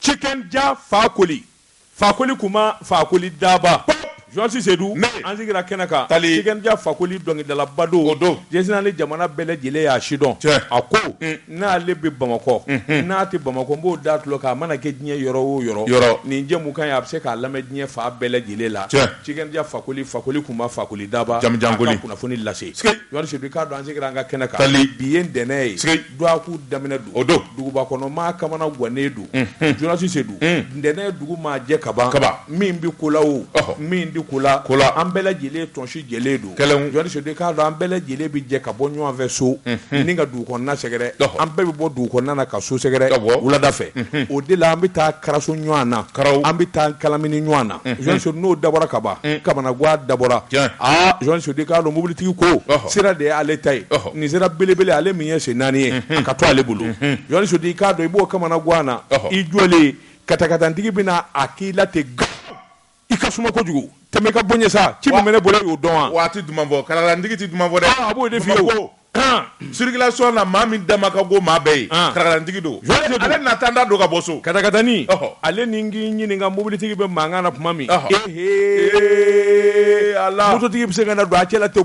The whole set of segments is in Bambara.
Tiken Jah fakoli fakoli kunba fakoli daba jɔnsi sedu an sigira kɛnɛ kan Tiken Jah fakoli dɔnkilidalaba don jɛsina ni jamana bɛɛ lajɛlen y'a sidɔn a ko n'ale bɛ bamakɔ n'a tɛ bamakɔ n b'o da tulo kan a mana kɛ diɲɛ yɔrɔ o yɔrɔ nin jɛmukan ye a bɛ se k'a lamɛn diɲɛ fan bɛɛ lajɛlen la Tiken Jah fakoli fakoli kunba fakoli daba a ka kunnafoni lase jɔnsi sedu k'a dɔn an sigira an ka kɛnɛ kan bi ye ntɛnɛn ye Dɔgɔkun daminɛ don duguba kɔnɔ maa kamanagannen don jɔnsi sedu ntɛnɛn dugu maa jɛ kaban min bɛ ko la o min tɛ ko la an bɛɛ lajɛlen tɔnsi jɛlen don jɔnsi sedu k'a dɔn an bɛɛ lajɛlen bɛ jɛ ka bɔ ɲɔgɔn fɛ so ni ka dugu kɔnɔna sɛgɛrɛ an bɛɛ bɛ bɔ dugu kɔnɔna ka so sɛgɛrɛ wulada fɛ o de la an bɛ taa karaso ɲɔgɔn na an bɛ taa kalamini ɲɔgɔn na jɔnsi sedu n'o dabɔra kaban kamanagan dabɔra jɔnsi sedu k'a dɔn mobilitigi ko sira de y'ale ta ye nin sira belebele ale min ye sen naani ye a ka to ale bolo jɔnsi sedu k'a dɔn i b'o kamanagan na i jɔlen katakatanintigi bɛ na a k'i la ten i ka suma kojugu tɛmɛ ka bɔ n ɲɛ sa ci min bɛ ne bolo y'o dɔn wa wa a tɛ duman fɔ katakatanintigi tɛ duman fɔ dɛ a b'o de f'i ye circulation na maa min dama ka go maa bɛɛ ye katakatanintigi don ale na tan da don ka bɔ so katakatani ale ni k'i ɲininka mobilitigi bɛ mankan na tuma min ee a mototigi bɛ se ka na don a cɛ la ten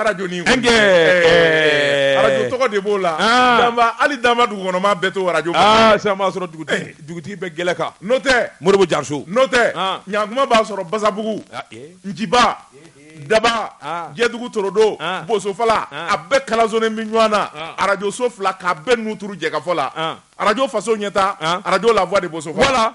arajo ni arajo tɔgɔ de b'o la hali daban dugu kɔnɔmaa bɛɛ to arajo sisan b'a sɔrɔ dugutigi bɛ gɛlɛ kan n'o tɛ moribu jariso n'o tɛ ɲankuma b'a sɔrɔ basabugu nciba daban jɛdugu torodo bosofala a bɛɛ kalansolen bɛ ɲɔgɔn na arajoso fila k'a bɛɛ nun turu jɛkafɔ la arajo faso ɲɛtaa arajo la voix de bo la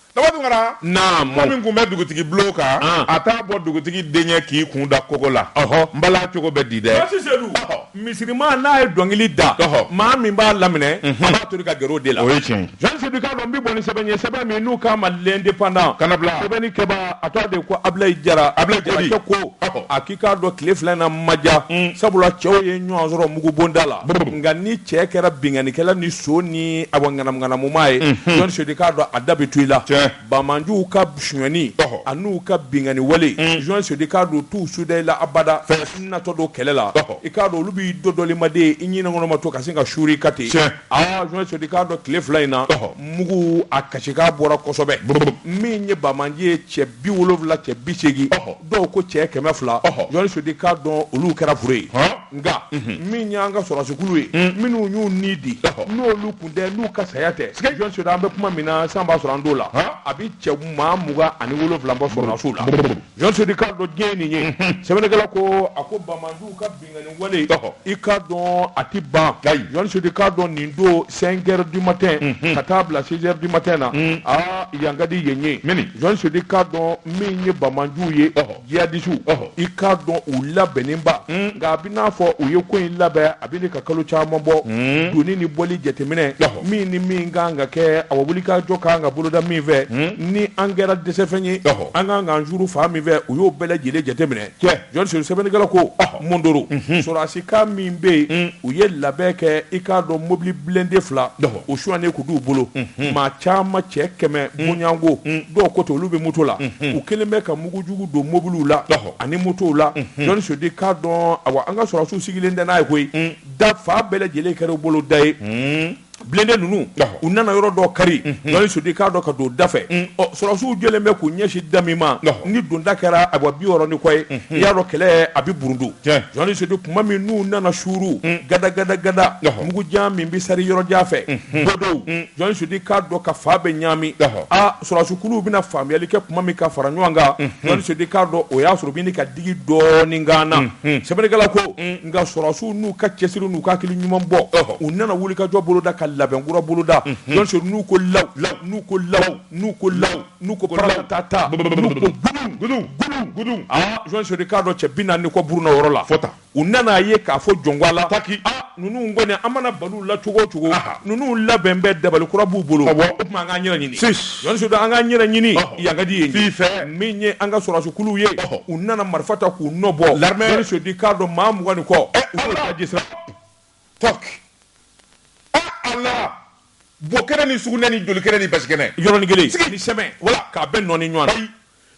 min kun bɛ dugutigi bulon kan a t'a bɔ dugutigi denkɛ k'i kun da kogo la n bala cogo bɛ di dɛ misirima n'a ye dɔnkili da maa min b'a laminɛ b'a to ka gɛrɛ o de la o ye tiɲɛ jɔnsi sedu k'a dɔn n bɛ bɔ ni sɛbɛn ye sɛbɛn min n'u k'a ma l'indépendant kana bila sɛbɛnnikɛbaa tɔgɔ de ko abulayi jara a ko i k'a dɔn tile fila in na ma ja sabula cɛw ye ɲɔgɔn sɔrɔ mugubonda la nka ni cɛ kɛra binkannikɛla ni son ni awa ŋanamuŋanamumaa ye jɔnsi sedu k'a dɔn a da bɛ to i la banbaanciw ka sonyani ani n'u ka binkanni wale jɔnsi sedu k'a dɔn t'u suda i la abada natɔ don kɛlɛ la i k'a dɔn olu b'i dɔdɔli ma de i ɲinɛ kɔnɔma to ka sin ka suuru i kan ten aaa jɔnsi sedu k'a dɔn tile fila in na mugu a kasikan bɔra kosɛbɛ min ye banbaanci ye cɛ bi wolowula cɛ bi seegin dɔw ko cɛ kɛmɛ fila jɔnsi sedu k'a dɔn olu kɛra fure ye nka min y'an ka sɔrɔdasikulu ye hmm. minnu y'u ni di n'olu kun tɛ n'u ka saya tɛ jɔnsi sedu an bɛ kuma min na san b'a sɔrɔ an don la a bɛ cɛ maa mugan ani wolowula bɔ sɔrɔdasiw la jɔnsi sedu k'a dɔn diɲɛ nin ye hmm. sɛbɛnnikɛla ko a ko banbaanciw ka wale i k'a dɔn a tɛ ban journaliste Seydou k'a dɔn nin don cinq heures du matin ka taa bila six heures du matin na aa yan ka di yen ye journaliste Seydou k'a dɔn min ye banbaganciw ye jihadisiw i k'a dɔn u labɛnnenba nka a bɛ n'a fɔ u ye ko in labɛn a bɛ ɲini ka kalo caman bɔ donni ni bɔli jateminɛ min ni min ka kan ka kɛ a wulikajɔ kan ka boloda min fɛ ni an kɛra dɛsɛfɛn ye an ka kan k'an juru fa min fɛ u y'o bɛɛ lajɛlen jateminɛ sɛbɛnnikɛla ko Mondoro sɔrɔsi kan min bɛ yen u ye labɛn kɛ i k'a dɔn mobili blende fila o sonyanen tun b'u bolo maa caman cɛ kɛmɛ bɔɲɔgɔnko dɔw ko ten olu bɛ moto la u kelen bɛ ka mugujugu don mobiliw la ani motow la journaliste Seydou k'a dɔn awa an ka sɔrɔsiw sigilen tɛ n'a ye koyi da fan bɛɛ lajɛlen kɛra u bolo da ye blende ninnu u nana yɔrɔ dɔ kari journaliste Seydou k'a dɔn ka don da fɛ sɔrɔsiw jɔlen bɛ k'u ɲɛsin da min ma ni donda kɛra awa bi wɔɔrɔ ni kɔ ye i y'a dɔn kɛlɛ a bɛ burundu journaliste Seydou tuma min n'u nana suuru gada gada gada mugu jan min bɛ seri yɔrɔ jan fɛ bɔdɔw journaliste Seydou k'a dɔn ka fan bɛɛ ɲaami aaa sɔrɔsikulu bɛna faamuyali kɛ tuma min ka fara ɲɔgɔn kan journaliste Seydou k'a dɔn o y'a sɔrɔ bɛ ɲini ka digi dɔɔnin kan na sɛbɛnnikɛla ko nka sɔrɔsiw n'u ka cɛsiri n'u ka hakili ɲuman bɔ u nana wulikajɔ boloda ka labɛnkura boloda journaliste Seydou n'u ko law n'u ko law n'u ko law n'u ko paratata n'u ko gudun gudun gudun aa journaliste Seydou k'a dɔn cɛ bi naani ni kɔ burunna o yɔrɔ la fɔ tan u nana a ye k'a fɔ jɔn ko Ala taki aa ninnu kɔni an mana balu la cogo o cogo ninnu labɛn bɛɛ dabali kura b'u bolo o tuma an k'an yɛrɛ ɲini an k'an yɛrɛ ɲini yan ka di yen ye min ye an ka sɔrɔsiw ye u nana marifa ta k'u nɔ bɔ journaliste Seydou k'a dɔn maa mugan ni kɔ la bokɛnɛ ni sugunɛ ni jolikɛnɛ ni basikɛnɛ yɔrɔ kelen sɛmɛ wala k'a bɛɛ nɔɔni ɲɔgɔn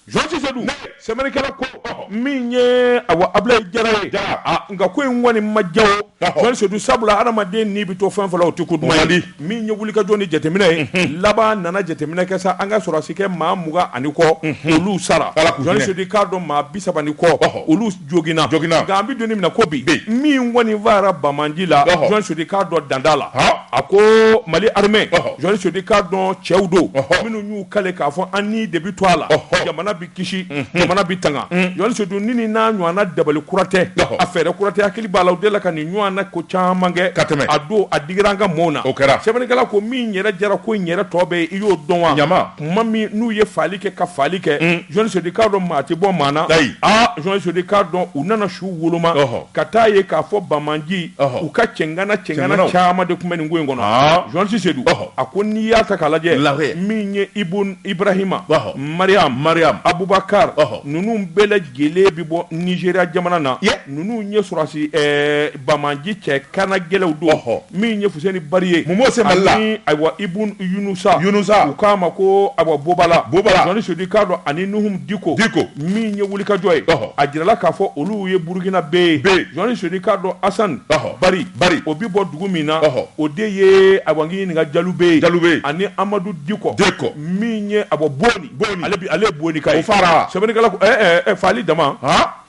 journaliste Seydou sɛbɛnnikɛla ko min ye a abulayi jara ye nka ko in kɔni ma diya o journaliste Seydou sabula hadamaden n'i bɛ to fɛn fɛn la o tɛ ko duman ye min ye wulikajɔ ni jateminɛ ye mhm. laban nana jateminɛ kɛ sa an ka sɔrɔsikɛ maa mugan ani kɔ mhm. olu sara journaliste Seydou k'a dɔn maa bi saba ni kɔ olu joginna joginna nka an bɛ don min na ko bi min kɔni faara banbaganci la journaliste Seydou k'a dɔn dan t'a la a ko mali armée journaliste Seydou k'a dɔn cɛw don minnu y'u kale k'a fɔ an ni de bɛ to a la jamana bɛ kisi jamana bɛ tanga journaliste Seydou nin n'a ɲɔgɔnna dabali kura tɛ a fɛɛrɛ kura tɛ an hakili b'a la u deli ka nin ɲɔgɔnna ko caman kɛ ka tɛmɛ a don a digira an ka mɔɔw na o kɛra sɛbɛnnikɛla ko min yɛrɛ jara ko in yɛrɛ tɔ bɛ i y'o dɔn wa ɲama tuma min n'u ye fagali kɛ ka fagali kɛ journaliste Seydou k'a dɔn maa tɛ bɔ maa na ayi aa journaliste Seydou k'a dɔn u nana su woloma ɔhɔ ka taa ye k'a fɔ banbaganci ɔhɔ u ka cɛngana cɛngana caman de tun bɛ nin ko in kɔnɔ aa journaliste Seydou ɔhɔ a ko n'i y'a ta k'a lajɛ lahɛ min ye ibun ibrahima ɔhɔ mariam mariam abubakar ɔhɔ ninnu bɛɛ lajɛlen bɛ bɔ nizeriya jamana na Ninnu ye sɔrɔsi banbaanci cɛ kannagɛlɛnw don min ye fuseni bari ye ani ayiwa ibn yunusa u k'a ma ko awa bobala jɔni sedu k'a dɔn ani nuhum diko diko min ye wulikajɔ ye a jirala k'a fɔ olu ye burukinabɛ ye jɔni sedu k'a dɔn asan bari o bɛ bɔ dugu min na o de ye awa ɲininka jalubɛ ani amadu diko diko min ye awa boni ale ye bonika ye sɛbɛnnikɛla ko faali dama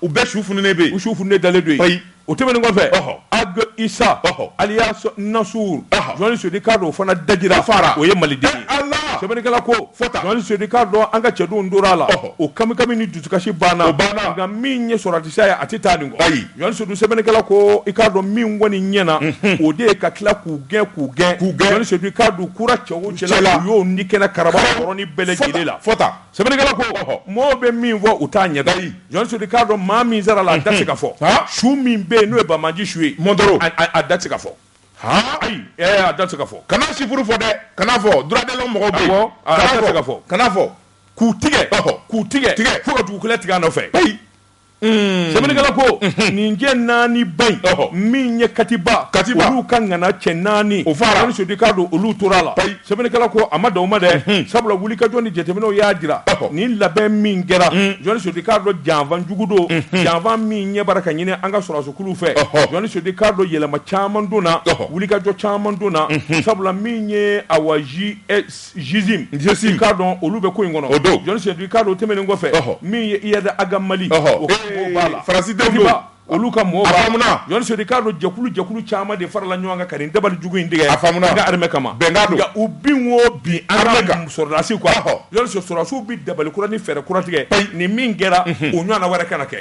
u bɛɛ su fununen bɛ yen, u su fununen dalen don yen, o tɛmɛnen kɔfɛ, ɔhɔ, Ag Isa, ɔhɔ, alias Nasur, ɔhɔ, Jɔni Sedu k'a dɔn o fana dajira, a fara, o ye maliden ye, e Ala, sɛbɛnnikɛla ko, fɔ tan, Jɔni Sedu k'a dɔn an ka cɛdenw tora a la, ɔhɔ, o kamikami ni dusukasi banna, o banna, nka min ye sɔrɔdasiya ye a tɛ taa nin kɔ, ayi, Jɔni Sedu sɛbɛnnikɛla ko, i k'a dɔn min kɔni ɲɛna, unhun, o de ye ka tila k'u gɛn k'u gɛn, k'u gɛn, Jɔni Sedu k'a dɔn kura cɛ o cɛ la, u y'o ni kɛnɛ karaba, karaba, o yɔrɔnin bɛɛ lajɛlen la, fɔ tan, fɔ tan. Sɛbɛnnikɛla ko, ɔhɔ, mɔɔw bɛ min fɔ u t'a ɲɛdɔn, ayi, Jɔni Sedu k'a dɔn maa min sara a la a da tɛ se ka fɔ, haa, su min bɛ yen n'o ye banbaanci su ye, Mondoro, a da tɛ se ka fɔ, haa, ayi, ɛɛ a da tɛ se ka fɔ, kana sifuru fɔ dɛ, kana fɔ, droit de l'homme mɔgɔw bɛ yen, awɔ, a da tɛ se ka fɔ, kana fɔ, k'u tigɛ, ɔhɔ, k'u tigɛ, tigɛ, fo ka dugukolo tigɛ a nɔfɛ, peyi. Mm. Sɛbɛnnikɛla ko mm-hmm. nin cɛ naani ba in min ye katiba katiba olu ka ŋana cɛ naani o fara jɔni sedu k'a dɔn olu tora a la sɛbɛnnikɛla ko a ma dan o ma dɛ mm-hmm. sabula wulikajɔ ni jateminɛw y'a jira nin labɛn min kɛra mm. jɔni sedu k'a dɔn janfa jugu don mm-hmm. janfa min ɲɛbaara ka ɲini an ka sɔrɔdasikuluw fɛ jɔni sedu k'a dɔn yɛlɛma caman donna wulikajɔ caman donna sabula min ye awa ji sim k'a dɔn olu bɛ ko in kɔnɔ o don jɔni sedu k'a dɔn tɛmɛnen kɔfɛ min ye iyad aga mali faransi olu ka mɔgɔw b'a jɔni sedu k'a dɔn jɛkulu jɛkulu caman de farala ɲɔgɔn kan ka nin dabali jugu in tigɛ an ka armée kama nka u bin o bin an ka sɔrɔdasiw quoi jɔni sedu sɔrɔsiw bɛ dabali kura ni fɛɛrɛ kura tigɛ nin min kɛra o ɲɔgɔnna wɛrɛ kana kɛ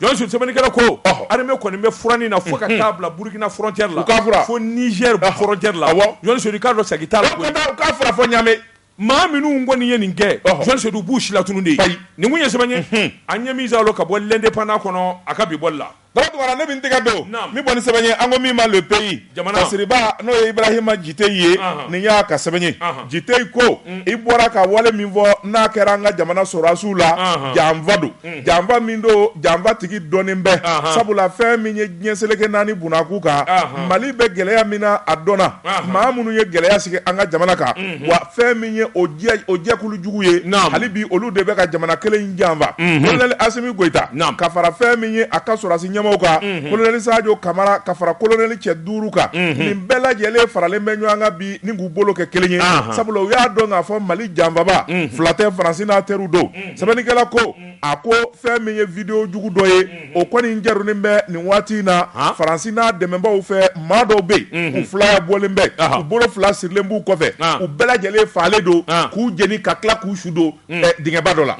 Jɔni Sedu sɛbɛnnikɛla ko armée kɔni bɛ furanni na fo ka taa bila burukina frontière la fo nizɛri frontière la jɔni sedu k'a dɔn siga t'a la koyi u k'a furan fo ɲamɛ maa minnu kɔni ye nin kɛ jɔni sedu u b'u silatunu de ye nin kun ye sɛbɛn ye an ye min sɔrɔ ka bɔ l'indépendant kɔnɔ a ka bi bɔli la ne min tɛgɛ don an bɛ bɔ ni sɛbɛn ye an ko min ma le pays Kasiriba n'o ye Ibarahima Jiteyi ye, ɔnhɔn, nin y'a ka sɛbɛn ye, ɔnhɔn, Jiteyi ko, un, i bɔra ka wale min fɔ n'a kɛra an ka jamana sɔrɔdasiw la, ɔnhɔn, janfa don, unhun, janfa min don janfa tigi dɔnnen bɛ, ɔnhɔn, sabula fɛn min ye diɲɛ seleke naani bunakun kan, ɔnhɔn, Mali bɛ gɛlɛya min na a dɔnna, ɔnhɔn, maa minnu ye gɛlɛya sigi an ka jamana kan, unhun, wa fɛn min ye o jɛkulu jugu ye hali bi olu de bɛ ka jamana kelen in janfa kolonɛli asimi goyita ka fara fɛn min ye a ka sɔrɔsi ɲɛmaaw kan kolonɛli sajo kamara ka fara kolonɛli cɛ duuru kan nin bɛɛ lajɛlen faralen bɛ ɲɔgɔn kan bi ni k'u bolo kɛ kelen ye sabula u y'a dɔn k'a fɔ mali janfaba fila tɛ faransi n'a teriw don sɛbɛnnikɛla ko a ko fɛn min ye video jugu dɔ ye o kɔni jarinen bɛ nin waati in na Faransi n'a dɛmɛbaaw fɛ maa dɔw bɛ yen u fila bɔlen bɛ u bolo fila sirilen b'u kɔfɛ u bɛɛ lajɛlen fagalen don k'u jeni ka tila k'u su don dingɛba dɔ la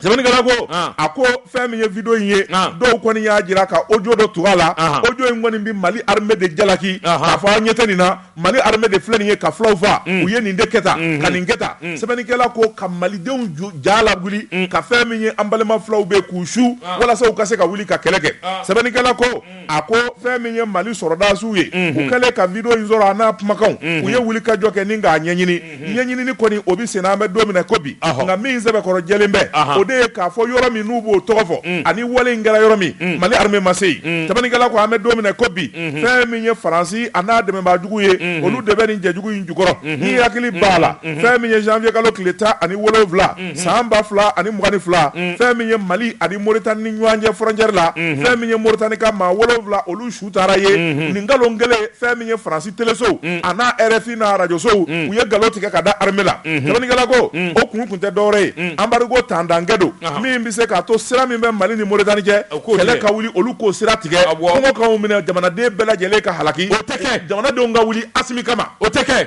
sɛbɛnnikɛla ko a ko fɛn min ye video in ye dɔw kɔni y'a jira ka audio dɔ tug'a la audio in kɔni bɛ Mali armée de jalaki k'a fɔ aw ɲɛ tɛ nin na mali armée de filɛ nin ye ka fulaw faa mm. u ye nin de kɛ tan mm-hmm. ka nin kɛ tan mm. sɛbɛnnikɛla ko ka malidenw ja lawuli mm. ka fɛn min ye an balima fulaw bɛ k'u su ah. walasa u ka se ka wuli ka kɛlɛ kɛ ah. sɛbɛnnikɛla ko a ko fɛn min ye mali sɔrɔdasiw ye mm-hmm. u kɛlen ka video in sɔrɔ a n'a kumakanw mm-hmm. u ye wuli ka jɔ kɛ ni k'a ɲɛɲini ɲɛɲinini kɔni o bɛ sen na an bɛ don min na ko bi nka min sɛbɛkɔrɔ jɛlen bɛ o de ye k'a fɔ yɔrɔ min n'u b'o tɔgɔ fɔ mm. ani wale in kɛra yɔrɔ min mm. mali armée ma se yen mm. sɛbɛnnikɛla ko an bɛ don min na ko bi mm-hmm. fɛn min ye faransi a n'a dɛmɛbaajugu ye mm-hmm. olu de bɛ nin jɛjugu in jukɔrɔ mm-hmm. ni hakili b'a la fɛn min ye janvier kalo tile tan ani wolonwula san ba fila ani mugan ni fila fɛn min ye mali ani moritani ni ɲɔgɔn cɛ frontière la fɛn min ye moritani ka maa wolonwula olu su u taara ye nin nkalon kelen fɛn min ye faransi telesow a n'a RFI n'a arajosow u ye nkalon tigɛ ka da armée la sɛbɛnnikɛla ko o kun tun tɛ dɔwɛrɛ ye embargo tantankɛ don min bɛ se k'a to sira min bɛ mali ni moritani cɛ kɛlɛ ka wuli olu k'o sira tigɛ kɔngɔ k'anw minɛ jamanaden bɛɛ lajɛlen ka halaki o tɛ kɛ jamanadenw ka wuli Asimi kama o tɛ kɛ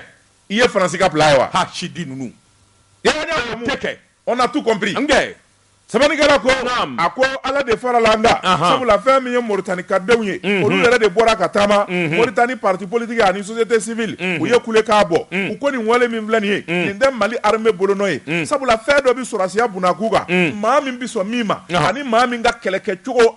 i ye faransi ka plan ye wa hasidi ninnu kɛ on a tout comp Sɛbɛnnikɛla ko a ko ala de farala an kan sabula fɛn min ye moritani ka denw ye olu yɛrɛ de bɔra ka taama moritani parti politique ani société civile u ye kule k'a bɔ u ko nin wale min filɛ nin ye nin tɛ mali armée bolonɔ ye sabula fɛn dɔ bɛ sɔrɔdasiya bunakun kan maa min bɛ sɔn min ma ani maa min ka kɛlɛkɛcogo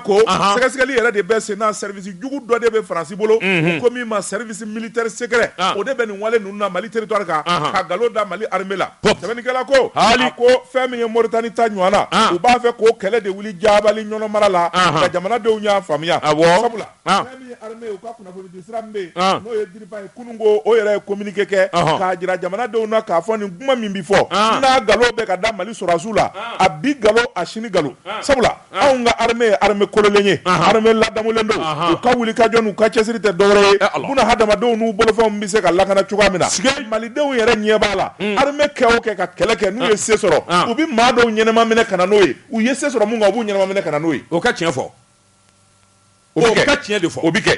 ko sɛgɛsɛgɛli yɛrɛ de bɛ sen na service jugu dɔ de bɛ faransi bolo u ko min ma service militaire secret o de bɛ nin Mali territoire kan ka nkalon da mali armée la sɛbɛnnikɛla ko a ko fɛn min ye moritani ta ɲɔgɔn na u b'a fɛ k'o kɛlɛ de wuli Jabali Ɲɔnɔ mara la nka jamanadenw y'a faamuya sabula fɛn min ye armée u ka kunnafoni di sira min bɛ yen n'o ye DIRPA ye kunun ko o yɛrɛ ye kominike kɛ k'a jira jamanadenw na k'a fɔ nin kuma min bɛ fɔ n'a nkalon bɛ ka da mali sɔrɔdasiw la a bi nkalon a sini nkalon sabula anw ka armée ye armée kololen ye armée ladamulen don u ka wuli ka jɔ n'u ka cɛsiri tɛ dɔwɛrɛ ye eh, buna hadamadenw n'u bolofɛnw bɛ se ka lakana cogoya min na malidenw yɛrɛ ɲɛ b'a la hmm. armée kɛ o kɛ ka kɛlɛ kɛ n'u ye ah. se sɔrɔ ah. u bɛ maa dɔw ɲɛnama minɛ ka na n'o ye u ye se sɔrɔ mun kan u b'u ɲɛnama minɛ ka na n'o ye o ka tiɲɛ fɔ o ka tiɲɛ de fɔ o bɛ kɛ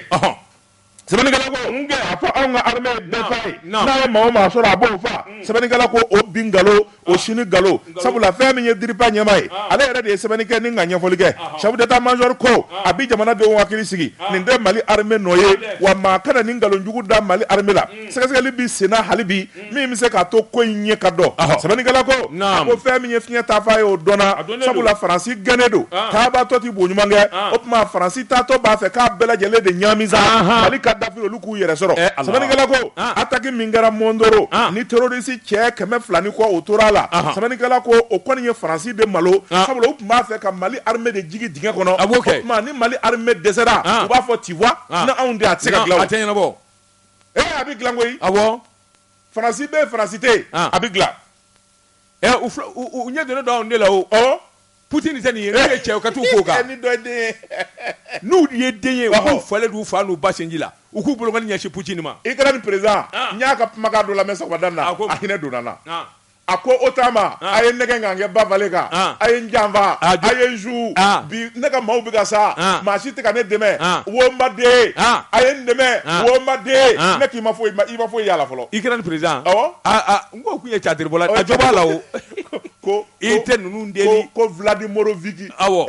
sɛbɛnnikɛla ko n'i y'a fɔ anw ka armée ye bɛɛ faa ye n'a ye maa o maa sɔrɔ a b'o faa mm. sɛbɛnnikɛla ko o bi nkalon o ah. sini nkalon sabula fɛn min ye DIRPA ɲɛmaa ye ah. ale yɛrɛ de ye sɛbɛnni kɛ ni ka ɲɛfɔli kɛ ah. chef d'état major ko a bi jamanadenw hakili sigi nin tɛ mali armée nɔ ye wa maa kana nin nkalon jugu da mali armée la mm. sɛgɛsɛgɛli bi senna hali bi min bɛ se k'a to ko in ɲɛ ka dɔn sɛbɛnnikɛla ko a ko fɛn min ye fiɲɛ taafan ye o dɔnna sabula faransi gɛnnen don taabaatɔ tɛ bo ɲuman kɛ o tuma faransi taatɔ b'a fɛ k'a bɛɛ lajɛlen de ɲaami sa mali ka dafiri olu k'u yɛrɛ sɔrɔ sɛbɛnnikɛla ko ataki min kɛra mɔndoro ni terorisi cɛ kɛmɛ fila ni kɔ o tora a la sɛbɛnnikɛla ko o kɔni ye faransi de malo sabula u tun b'a fɛ ka mali arime de jigi dingɛ kɔnɔ o tuma ni mali arime dɛsɛra u b'a fɔ tu vois ni anw tɛ a tɛ se ka ɲɛnabɔ e a bɛ dilan koyi a faransi bɛ faransi tɛ yen a bɛ dilan u ɲɛ donnen don anw de la o ɔ putini tɛ nin ye n'u ye cɛ ka taa ko kan ni dɔ den n'u ye den ye k'u falen don u fa n'u ba sinji la u k'u bolokɔni ɲɛsin putini ma ikɛrɛni perezidan n y'a ka kumakan dɔ lamɛn sɔgɔmada in na a hinɛ donna n na a ko OTAN ma ah. a ye n nɛgɛn ka n kɛ ba falen kan ah. a ye n janfa ah, a ye n su bi ne ka maaw bɛ ka sa maa si tɛ ka ne dɛmɛ wo n baden a ye n dɛmɛ wo n baden ne k'i ma foyi i ma foyi y'a la fɔlɔ ikɛrɛni perezidan awɔ n ko kun ye tiyatiribɔla a jo b'a la o ko i tɛ ninnu deli ko Vladimir Viki awɔ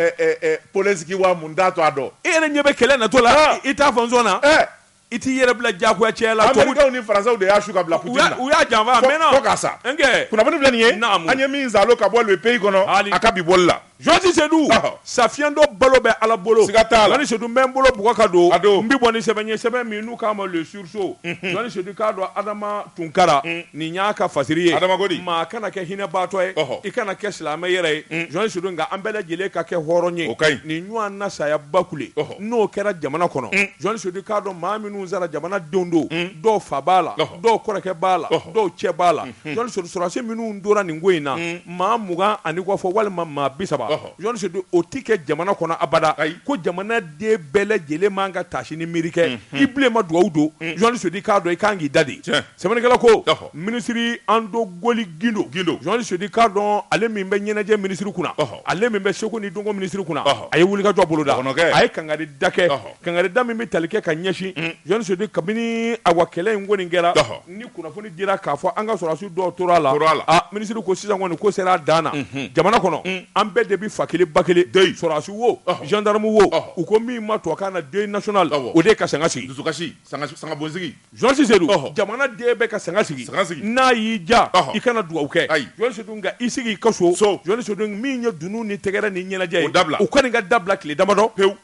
Polensiki wa mun t'a to a dɔn e yɛrɛ ɲɛ bɛ kɛlɛ natɔ la i t'a fɔ n sɔnna I t'i yɛrɛ bila diyagoya cɛya la. Américains ni Français de y'a su ka bila Poutine na. U y'a janfa a mɛnna. Fo k'a sa. N kɛ. Kunnafoni filɛ nin ye. Naamu. An ye min saalo ka bɔ le pays kɔnɔ. Haali. A ka bi bɔli la. Journaliste Sedu. Ɔhɔ. Safiyɛndɔ balo bɛ Ala bolo. Siga t'a la. Journaliste Sedu n bɛ n bolo bugɔ ka don. A don. N bi bɔ ni sɛbɛn ye, sɛbɛn min n'u k'a ma le sursaut. Unhun. Journaliste Sedu i k'a dɔn Adama Tunkara. Un. Nin y'a ka fasiri ye. Adama ko di? Maa kana kɛ hinɛbaatɔ ye. Ɔhɔ. I kana kɛ silamɛ yɛrɛ ye. Un. Journaliste Sedu nka an bɛɛ lajɛlen ka kɛ hɔrɔn ye. O ka ɲi. Nin ɲɔɔn na saya bakule. Ɔhɔ. n'o kɛra jamana kɔnɔ journaliste sedu i k'a dɔn maa minnu sara jamanadenw don dɔw fa b'a la dɔw kɔrɔkɛ b'a la dɔw cɛ b'a la journaliste sedu sɔrɔdasi minnu tora nin ko in na maa mugan ani kɔ fɔ walima maa bi saba journaliste sedu o tɛ kɛ jamana kɔnɔ abada ko jamana den bɛɛ lajɛlen man ka taasi ni miiri kɛ i bilen ma dugawu don journaliste sedu i k'a dɔn i ka kan k'i dade Sɛbɛnnikɛla ko, ɔhɔ, minisiri Andogoli Gindo, Gindo, Journaliste Sedu i k'a dɔn ale min bɛ ɲɛnajɛ minisiri kunna, ɔhɔ, ale min bɛ seko ni dɔnko minisiri kunna, ɔhɔ, a ye wulikajɔ boloda, dɔgɔnɔkɛ, a ye kangarida kɛ, ɔhɔ, kangarida min bɛ tali kɛ ka ɲɛsin, un, Journaliste Sedu kabini awa kɛlɛ in kɔni kɛra, ɔhɔ, ni kunnafoni dira k'a fɔ an ka sɔrɔdasi dɔw tora a la, tora a la, a minisiri ko sisan kɔni ko sera a dan na, unhun, jamana kɔnɔ, un, an bɛɛ de bɛ fa kelen ba kelen, deuil, sɔrɔdasi wo, ɔhɔ, gendarme wo, ɔhɔ, u ko min ma tubabukan na deuil national, awɔ, o de ye ka sanga sigi, dusukasi, sanga, sangabonsigi. Journaliste Sedu jamana den bɛɛ ka sanga sigi n'a y'i diya i kana dugawu kɛ journaliste sedu nka i sigi i ka so journaliste sedu min ye dunun ni tɛgɛrɛ ni ɲɛnajɛ ye u ko nin ka dabila tile damadɔ pewu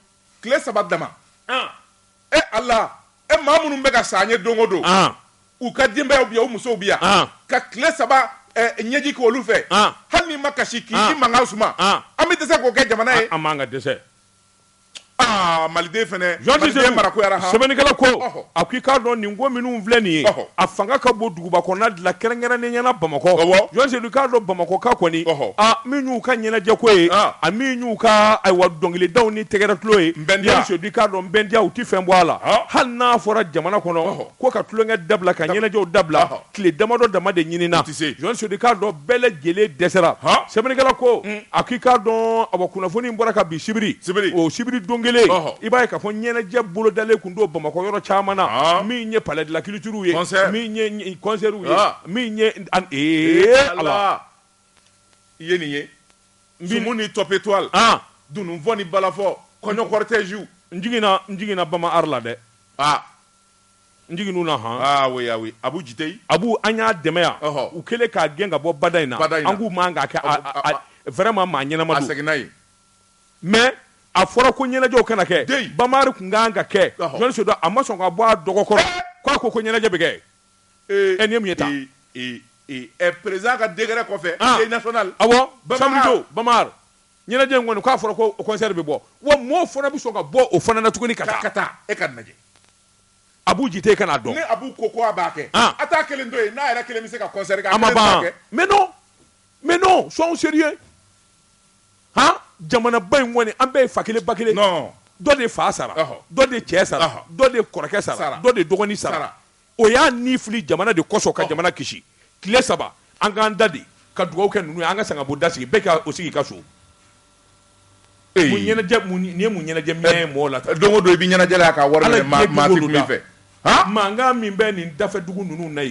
tile saba dama e ala e maa minnu bɛ ka sa yen don o don u ka denbayaw bi yan u musow bi yan ka tile saba ɲɛji ko olu fɛ hali n'i ma kasi k'i mankan suma an bɛ dɛsɛ k'o kɛ jamana ye an man ka dɛsɛ Aa maliden fana Jɔni Sedu maliden mara ko yara han sɛbɛnnikɛla ko ɔhɔ a ko i k'a dɔn nin ko minnu filɛ nin ye ɔhɔ a fanga ka bon duguba kɔnɔna de la kɛrɛnkɛrɛnnenya la Bamakɔ awɔ Jɔni Sedu i k'a dɔn Bamakɔkaw kɔni ɔhɔ a min y'u ka ɲɛnajɛ ko ye an a min y'u ka ayiwa dɔnkilidaw ni tɛgɛrɛ tulon ye Jɔni Sedu i k'a dɔn Nbɛndiya u tɛ fɛn bɔ a la ɔhɔ hali n'a fɔra jamana kɔnɔ ɔhɔ ko ka tulonkɛ dabila ka ɲɛnajɛw dabila ɔhɔ tile damadɔ dama de ɲinina jɔni sedu i k'a dɔn bɛɛ lajɛlen dɛsɛra sɛbɛnnikɛla ko a k'i k'a dɔn a kunnafoni bɔra ka bi sibiri o sibiri don kelen i b'a ye k'a fɔ ɲɛnajɛ bolodalen tun don bamakɔ yɔrɔ caman na min ye palais de la culture ye min ye concert ye min ye ala i ye nin ye sumu ni top étoile dunun fɔ ni balafɔ kɔɲɔ cortège jiginna jiginna bamari la dɛ n jiginnu na han ah oui ah oui abu jiteyi abu an y'a dɛmɛ yan ɔhɔ u kɛlen k'a gɛn ka bɔ bada in na bada in na an k'u man kan k'a kɛ a a vraiment maa ɲɛnama don a seginna yen mais a fɔra ko ɲɛnajɛw kana kɛ dɛ bamari tun kan ka kɛ jɔni sedu a ma sɔn k'a bɔ a dɔgɔ kɔrɔ eh! ko a ko ko ɲɛnajɛ bɛ kɛ eh! ɛ nin ye mun ye tan ɛ eh, président ka décret kɔfɛ ah! national awɔ samedi don bamari Ɲɛnajɛ in kɔni k'a fɔra ko o concert bɛ bɔ, wa mɔɔw fana bɛ sɔn ka bɔ o fana na tuguni ka taa. Ka taa, e ka nin lajɛ. Abu Jite kan'a dɔn. Ni Abu ko ko a b'a kɛ. An! A t'a kelen to yen, n'a yɛrɛ kelen bɛ se ka concert kɛ, a kelen t'a kɛ? A ma ban. Mais non! Mais non! Soyons sérieux! Han! Jamanaba in kɔni, an bɛɛ ye fa kelen ba kelen ye. Non! Dɔ de fa sara. Ɔhɔ! Dɔ de cɛ sara. Ɔhɔ! Dɔ de kɔrɔkɛ sara. Sara! Dɔ de dɔgɔnin sara. Sara! o y'a ni fili jamana de kɔsɔn ka jamana kisi tile saba an k'an da de ka dugawu kɛ ninnu ye an ka sangabonda sigi bɛɛ k'i sigi i ka so nin ye mun ɲɛnajɛ minɛ mɔgɔ la don o don i bɛ ɲɛnajɛ la k'a wari minɛ maa tɛ kuma i fɛ mankan min bɛ nin dafɛ dugu ninnu na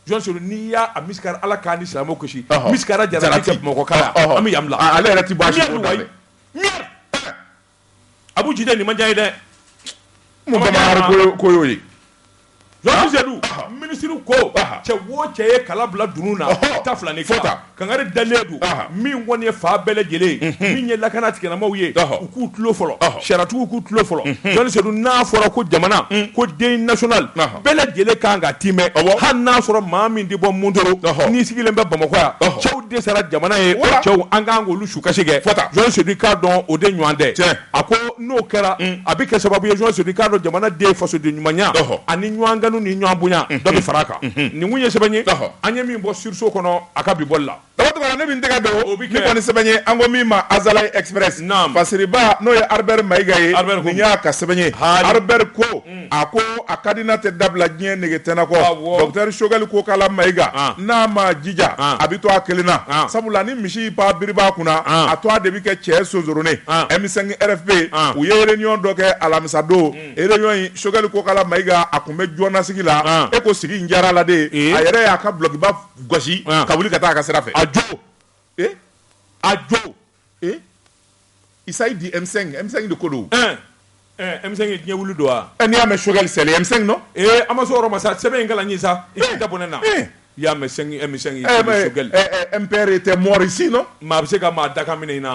jɔni sedu n'i y'a mɛn ala k'an ni silamɛw kisi misi jara mɔgɔ ale yɛrɛ abu jite nin ma diya n ye dɛ mun bamari ko y'o ye jɔni sedu minisiri ko cɛ o cɛ ye kala bila dunun na ta fila ni fɔ ta kankari dalen don min kɔni ye fanga bɛɛ lajɛlen min ye lakana tigilamaaw ye u k'u tulo fɔlɔ sariyatigiw k'u tulo fɔlɔ jɔni sedu n'a fɔra ko jamana ko deuil national bɛɛ lajɛlen kan k'a timɛ hali n'a sɔrɔ maa min tɛ bɔ mondoro n'i sigilen bɛ bamakɔ yan cɛw de sara jamana ye cɛw an kan sukasi kɛ fota jɔni sedu i k'a dɔn o de ɲɔgɔn tɛ tiɲɛ a ko n'o kɛra mm. a bɛ kɛ sababu ye jɔni sedu i k'a dɔn jamana den fasoden ɲumanya ani ɲɔgɔn kanu ni ɲɔgɔn bonya mm-hmm. dɔ bɛ fara a kan mm-hmm. nin kun ye sɛbɛn ye an ye min bɔ Sursaut kɔnɔ a ka bi bɔli la dabatugula ne min tɛgɛ dɔn o bɛ kɛ nin kɔni sɛbɛn ye an ko min ma Azalaï Express naam fasiriba n'o ye Albert Mayiga ye nin y'a ka sɛbɛn ye Albert ko mm. a ko a ka dina tɛ dabila diɲɛ nege tɛna kɔ docteur Choguel Kokala Mayiga n'a ma jija a bɛ to a kelen na sabula ni misi ba biri ba kunna a to a de bɛ kɛ cɛ sonsoronnen M5 RFP u ye réunion dɔ kɛ alamisadon réunion in Choguel Kokala Mayiga a kun bɛ jɔnasigi la e ko sigi in diyara la de a yɛrɛ y'a ka bulɔkiba gosi ka wuli ka taa a ka sira fɛ a jo a jo Ee Isa i di M5 M5 de ko don o ɛɛ ɛɛ M5 ye diɲɛ wuli don wa ɛ n'i y'a mɛ Choguel c'est le M5 non ee an ma s'o yɔrɔ ma sa sɛbɛn in kalan n ye sa i k'i da bɔ ne na i y'a mɛ M5 M5 ɛɛ mais Choguel ɛɛ ɛɛ ɛɛ MPR était mort ici non maa bɛ se ka maa dakan minɛ i na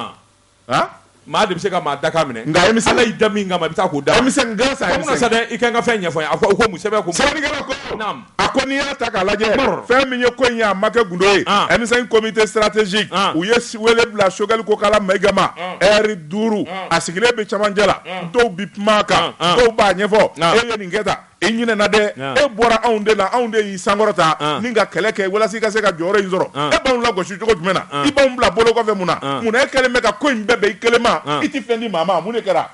wa han maa de bɛ se ka maa dakan minɛ nka M5 Ala y'i da min kama i bɛ taa k'o d'a ma M5 grâce à M5 o tuma sa dɛ i ka n ka fɛn ɲɛfɔ n ye a ko o ko mun sɛbɛn ko mun sɛbɛnnikɛla ko naam a ko n'i y'a ta k'a lajɛ fɛn min ye ko in ye a ma kɛ gundo ye M5 comité stratégique u ye wele bila Choguel Kokala Mayiga ma ɛri duuru a sigilen bɛ camancɛ la dɔw bɛ kuma a kan dɔw b'a ɲɛfɔ e ye nin kɛ tan i ɲinɛna dɛ e bɔra anw de la anw de y'i sankɔrɔta ni ka kɛlɛ kɛ walasa i ka se ka jɔyɔrɔ in sɔrɔ e b'anw lagosi cogo jumɛn na i b'anw bila bolo kɔfɛ mun na mun na e kɛlen bɛ ka ko in bɛɛ bɛn i kelen ma i tɛ fɛn di maa ma mun de kɛra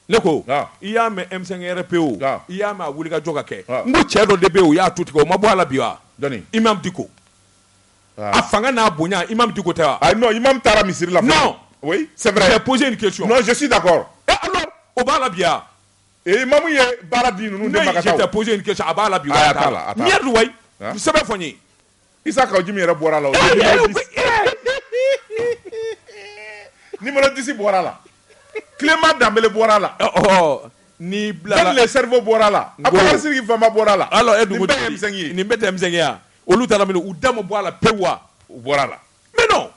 Ne ko i y'a mɛn emisɛn pe o i y'a mɛn a wuli ka jɔ ka kɛ n ko cɛ dɔ de bɛ o y'a tu tigɛ o ma bɔ a la bi wa i ma di ko a fanga n'a bonya i ma di ko tɛ i ma taara misiri la sɛ psi in kɛsi da kɔrɔ o b'a la bi ee mamu ye baara di ninnu tɛ psi in kɛ a b'a la bi la sɛbɛn fɔ n ye Isa Kawu Jimi yɛrɛ bɔra la numéro dix bɔra la Clément Dembélé bɔra la ni Ben le cerveau bɔra la Abubakar Sidiki Fomba bɔra la ala ye dugu nin bɛ tɛmɛya olu taara min u da ma bɔ a la pewu wa u bɔra la mais non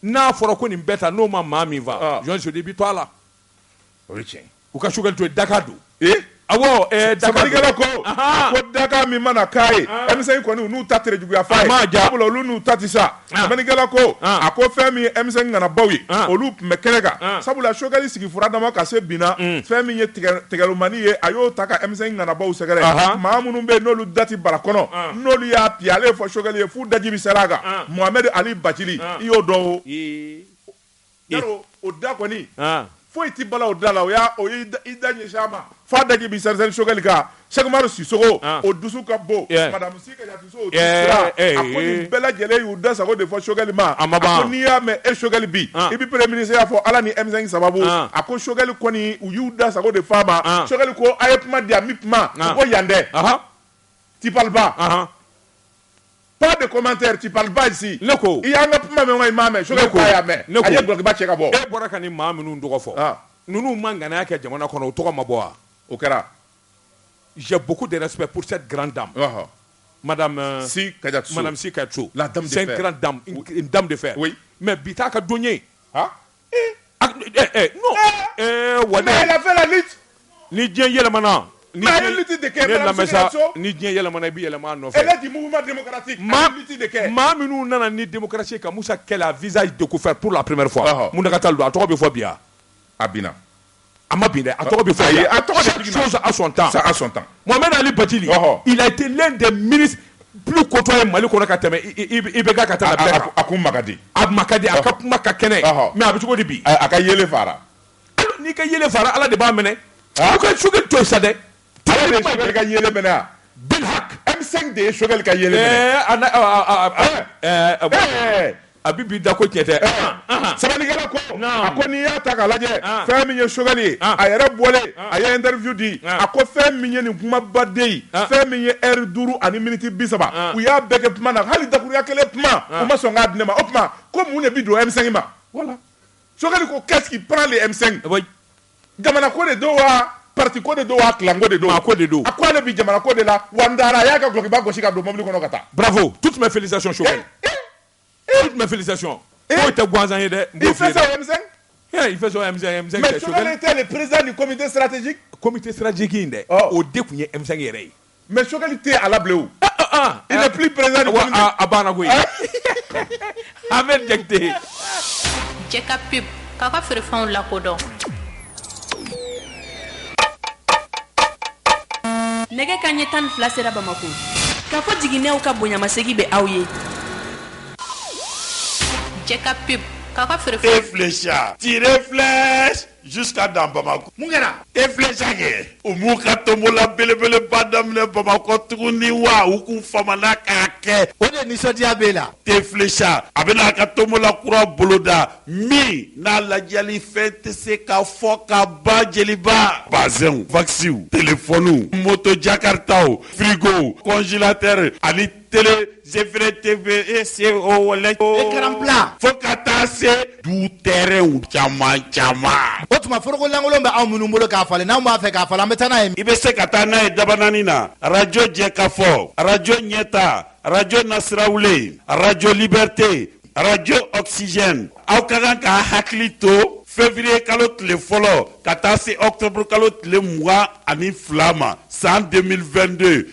n'a fɔra ko nin bɛɛ ta n'o ma maa min faa jɔn su de bɛ to a la o ye tiɲɛ u ka Choguel to yen dakan don awɔ sɛbɛnnikɛla ko ko dakan min mana k'a ye M5 kɔni n'u ta tere juguya f'a ma sabula olu n'u ta tɛ sa sɛbɛnnikɛla ko a ko fɛn min ye M5 ŋanabaw ye olu tun bɛ kɛnɛ kan sabula Choguel sigi fura dama ka se binna fɛn min ye tigɛlilomani ye a y'o ta ka M5 ŋanabaw sɛgɛrɛ maa minnu bɛ yen n'olu da tɛ bara kɔnɔ n'olu y'a bi ale ye fɔ Choguel ye f'u daji bi seri a kan Mohamed Ali Bathily i y'o dɔn o da kɔni foyi tɛ bala o da la o i da ɲɛ ma fa daji bi sari sokɛkali sari siso o dusu ka bon bɛɛ lajɛlen y'u da sago de fɔ sokɛkali ma a ma n'i y'a mɛn e sokɛkali bi i bɛ mini y'a fɔ ala ni emi sababu a ko sokɛli kɔni u y'u da sago de fa ma sokɛkali ko a ye kuma di a kuma ko yan tɛ tiba Pas de commentaire, tu parles pas ici. Ne ko. I y'an ka kuma mɛn wa i m'a mɛn? Choguel ko a y'a mɛn. Ne ko. A ye dɔlɔkiba cɛ ka bɔ. E bɔra ka nin maa minnu tɔgɔ fɔ. Ɔn. Ninnu ma ŋanaya kɛ jamana kɔnɔ, u tɔgɔ ma bɔ wa? O kɛra. J'ai beaucoup de respect pour cette grande dame. Ɔhɔ. Madame. Si Kadiatou Sow. Madame Si Kadiatou Sow. La dame de fer. C'est une grande dame, une dame de fer. Oui. Mais bi t'a ka don ye. Han! A tun bɛ- ɛ, ɛ, non. Ɛ, wale. Mais elle a fait la lutte. ni diɲɛ yɛlɛmana ni Mais ale diɲɛ- lutte de kɛ, ne Madame lamɛn sa, Sy Kadiatou Sow. ni diɲɛ yɛlɛmana i bɛ yɛlɛma a nɔfɛ Elle est du mouvement démocratique. maa Ale lutte de kɛ. maa minnu nana ni démocratie ye ka Musa kɛlɛ à visage découvert pour la première fois Ɔhɔ. Mountaga Tall don a tɔgɔ bɛ fɔ bi wa a binna a ma bin a tɔgɔ bɛ fɔ a tɔgɔ sɔn tan sa sɔn tan wa bɛ ali baji itilen de mini kotɔ ye mali kɔnɔ ka tɛmɛ i bɛ ka taa a ko ma di a ma di a ka kuma ka kɛnɛ mɛ a bɛ cogo bi a ka yɛlɛ fara n'i ka yɛlɛ fara ala de b'a minɛ a ka su to sa dɛ Ale de ye Choguel ka yeelen mɛnɛ wa? Bil hak! M5 de ye Choguel ka yeelen mɛnɛ. Ɛɛ a na ɔɔ a a a ɛɛ a ɛɛ a bi b'i da ko tiɲɛ tɛ. Ɔnhɔn, ɔnhɔn. Sabalikɛla ko, naamu, a ko n'i y'a ta k'a lajɛ, an, fɛn min ye Choguel ye, an, a yɛrɛ bɔlen, an, a ye interview di, an, a ko fɛn min ye nin kumabaden ye, an, fɛn min ye heure 5 ani minutes 30, an, u y'a bɛɛ kɛ kuma na, hali dakuruɲɛ kelen kuma, an, u ma sɔn k'a di ne ma, o tuma ko mun de bi don M5 ma? Voilà Choguel ko qu'est-ce qui prend le M5? Oui. Jamana ko de don wa pati ko de don wa ko de don a ko de don a ko ale bɛ jamana ko de la wa dara a y'a ka gba gosi ka don mobili kɔnɔ ka taa bafo tu tun bɛ fili so so tun bɛ fili so e tɛ gansan ye dɛ i fɛn tɛ perez ni kɔmi tɛ sirajji kɔmi tɛ sirajji in dɛ o de tun ye e yɛrɛ ye Mais Choguel tɛ a la bilen o il n'est plus président a banna koyi Ahmed Diakité Jɛka pub k'a ka feerefɛnw lakodɔn nɛgɛ kanɲɛ tan ni fila sera bamakɔ k'a fɔ jiginɛw ka bonyamasegin bɛ aw ye Jɛka pub ka feerefɛn filɛ Jusqu'à dans Bamako. Mun kɛra? Thé Flecha kɛ, u m'u ka tonbola belebeleba daminɛ Bamakɔ tuguni wa? U k'u famana k'a kɛ. O de nisɔndiya b'e la? Thé Flecha, a bɛna a ka tonbola kura boloda min n'a ladiyalifɛn tɛ se ka fɔ ka ban, Jeliba. Bazɛnw, vakisiw, telefɔniw, moto jakaritaw, firigow, kɔnjilatɛri ani. tele zefere tebe e se o wala écran plat fo ka taa se du tɛrɛnw caman caman o tuma foroko lankolon bɛ anw minnu bolo k'a falen n'anw b'a fɛ k'a falen an bɛ taa n'a ye i bɛ se ka taa n'a ye dabanani na arajo jɛkafɔ arajo ɲɛta arajo nasirawulen arajo libɛrite arajo ɔkisizɛn aw ka kan k'a hakili to fevriye kalo tile fɔlɔ ka taa se ɔkutɔburukalo tile mugan ani fila ma san 2022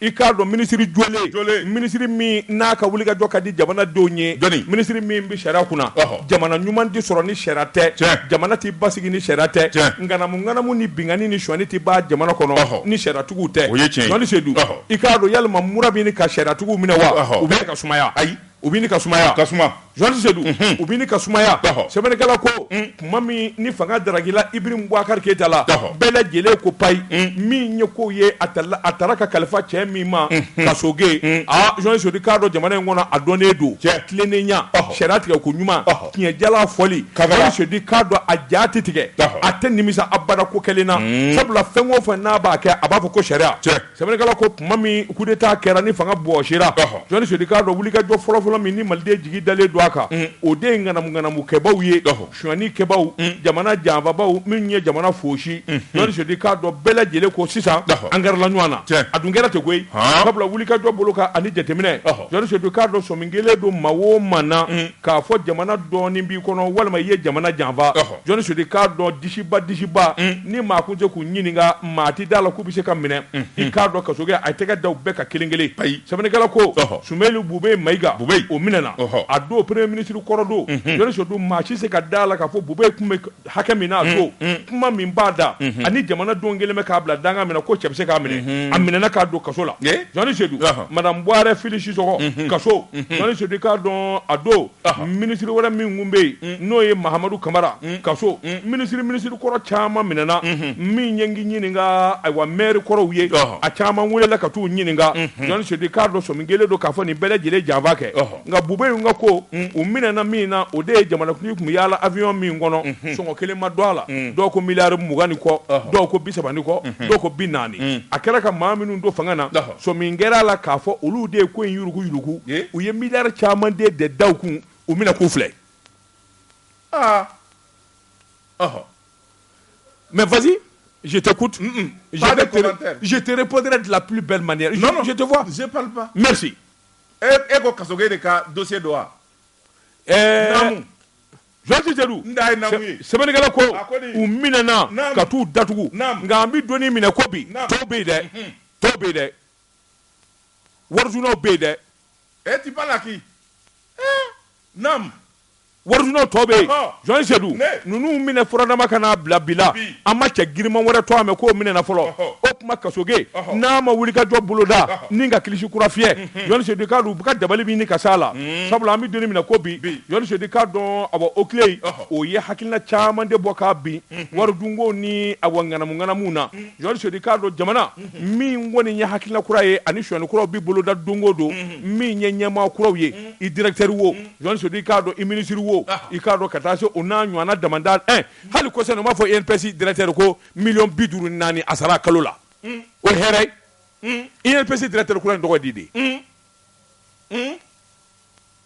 I k'a dɔn minisiri jɔlen minisiri min n'a ka wulikajɔ ka di jamana denw ye minisiri min bɛ sariya kunna jamana ɲuman tɛ sɔrɔ ni sariya tɛ jamana tɛ basigi ni sariya tɛ ŋanamu ŋanamu ni binkanni ni sonyani tɛ ban jamana kɔnɔ ni sariyatigiw tɛ o ye tiɲɛ ye Jɔni Sedu i k'a dɔn yalima mura bɛ ɲini ka sariyatigiw minɛ wa u bɛ ka sumaya ayi u bɛ ɲini ka sumaya ka suma Jɔni Sedu u bɛ ɲini ka sumaya sɛbɛnnikɛla ko tuma min ni fanga darakila Ibrahim Bubakari Keyita la bɛɛ lajɛlen ko paye min ye ko ye a a taara ka kalifa cɛ min ma Kasoge aaa Jɔni Sedu k'a dɔn jamana in kɔnɔ a dɔnnen don tilennenya sariya tigɛ koɲuman tiɲɛ jalan fɔli Jɔni Sedu k'a dɔn a ja tɛ tigɛ a tɛ nimisa abada ko kelen na sabula fɛn o fɛ n'a b'a kɛ a b'a fɔ ko sariya cɛ Sɛbɛnnikɛla ko tuma min coup d'Etat kɛra ni fanga bɔsira, ɔhɔ, Jɔni Sedu k'a dɔn wulikajɔ fɔlɔfɔlɔ min ni Maliden jigi dalen don a kan, un, o de ye ŋanamu ŋanamu kɛbaaw ye, ɔhɔ, sonyani kɛbaaw, un, jamana janfabaaw minnu ye jamana fosi, unhun, Jɔni Sedu k'a dɔn bɛɛ lajɛlen ko sisan, ɔhɔ, an gɛrɛla ɲɔgɔn na, tiɲɛ, a dun kɛra ten koyi, haan, sabula wulikajɔ bolo kan ani jateminɛ, ɔhɔ, Jɔni Sedu k'a dɔn sɔmi kelen don maa o maa na, un, k'a fɔ jamana dɔɔnin b'i kɔnɔ walima i ye jamana janfa, ɔhɔ. Jɔni Sedu k'a dɔn disiba disiba ni maa kun tɛ se k'u ɲininka maa tɛ d'a la k'u bɛ se ka minɛ i k'a dɔn Kasoge y'a tɛgɛ da u bɛɛ kan kelen kelen ayi sɛbɛnnikɛla ko Sumeyilu Bubeyi Mayiga o minɛna a don premier ministre kɔrɔ don Jɔni Sedu maa si se ka da la k'a fɔ Bubeyi tun bɛ hakɛ min na a don kuma min b'a da ani jamanadenw kɛlen bɛ k'a bila danga min na ko cɛ bɛ se k'a minɛ a minɛna k'a don kaso la Jɔni Sedu madamu Buware Fili Sisɔkɔ kaso Jɔni Sedu k'a dɔn a don minisiri wɛrɛ min tun bɛ yen n'o ye Mahamadu Kamara kaso minisiri minisiri kɔrɔ caman minɛna min ye ɲininka ayiwa mɛri kɔrɔw ye a caman welela ka taa u ɲininka Jɔni Sedu k'a dɔn sɔmi kelen don k'a fɔ nin bɛɛ lajɛlen janfa kɛ nka Bubeyi in ka ko u minɛna min na o de ye jamanakuntigi tun bɛ yaala awiyɔn min kɔnɔ sɔngɔ kelen ma don a la dɔw ko miliyari mugan ni kɔ dɔw ko bi saba ni kɔ dɔw ko bi naani a kɛra ka maa minnu don fanga na Sɔmi kɛra a la k'a fɔ olu de ye ko in yurugu yurugu u ye mi caman de de da kun u bɛna k'u filɛ mɛ fa jite ku jitete pɔnte dilanp bɛ mande e ko ka de ka don don wa Jɔni Sedu sɛbɛnnikɛla ko u minɛna ka taa u datugu nka an bɛ don min na i ko bi tɔw bɛ yen dɛ tɔw bɛ yen dɛ warisonyanaw bɛ yen dɛ e tu parles à qui naamu warisonyanaw tɔ bɛ yen Jɔni Sedu ninnu minɛ furadama ka na bila bi la an ma cɛ giriman wɛrɛ tɔgɔ mɛn k'o minɛna fɔlɔ o tuma Kasoge n'a ma wulikajɔ boloda ni ka kilisi kura fiyɛ Seyidu k'a dɔn u bɛ ka dabali min ɲini ka s'a la sabula an bɛ don min na ko bi Jɔni Seyidu k'a dɔn awɔ o tile o ye hakilila caman de bɔ k'a bin wari dunko ni awɔ ŋanamuŋanamu na Jɔni Seyidu k'a dɔn jamana min kɔni ye hakilila kura ye ani shɔni kuraw bɛ boloda don o don min ye ɲɛmaa kuraw ye i directeur wo Jɔni Seyidu k'a dɔn i minisiri wo i k'a dɔn ka taa se u n'a ɲɔgɔn dama hali kɔsa u b'a fɔ INPS directeur ko miliyɔn bi duuru ni naani a sara kalo la o hɛrɛ i ye psi dira tɛ kura in tɔgɔ di de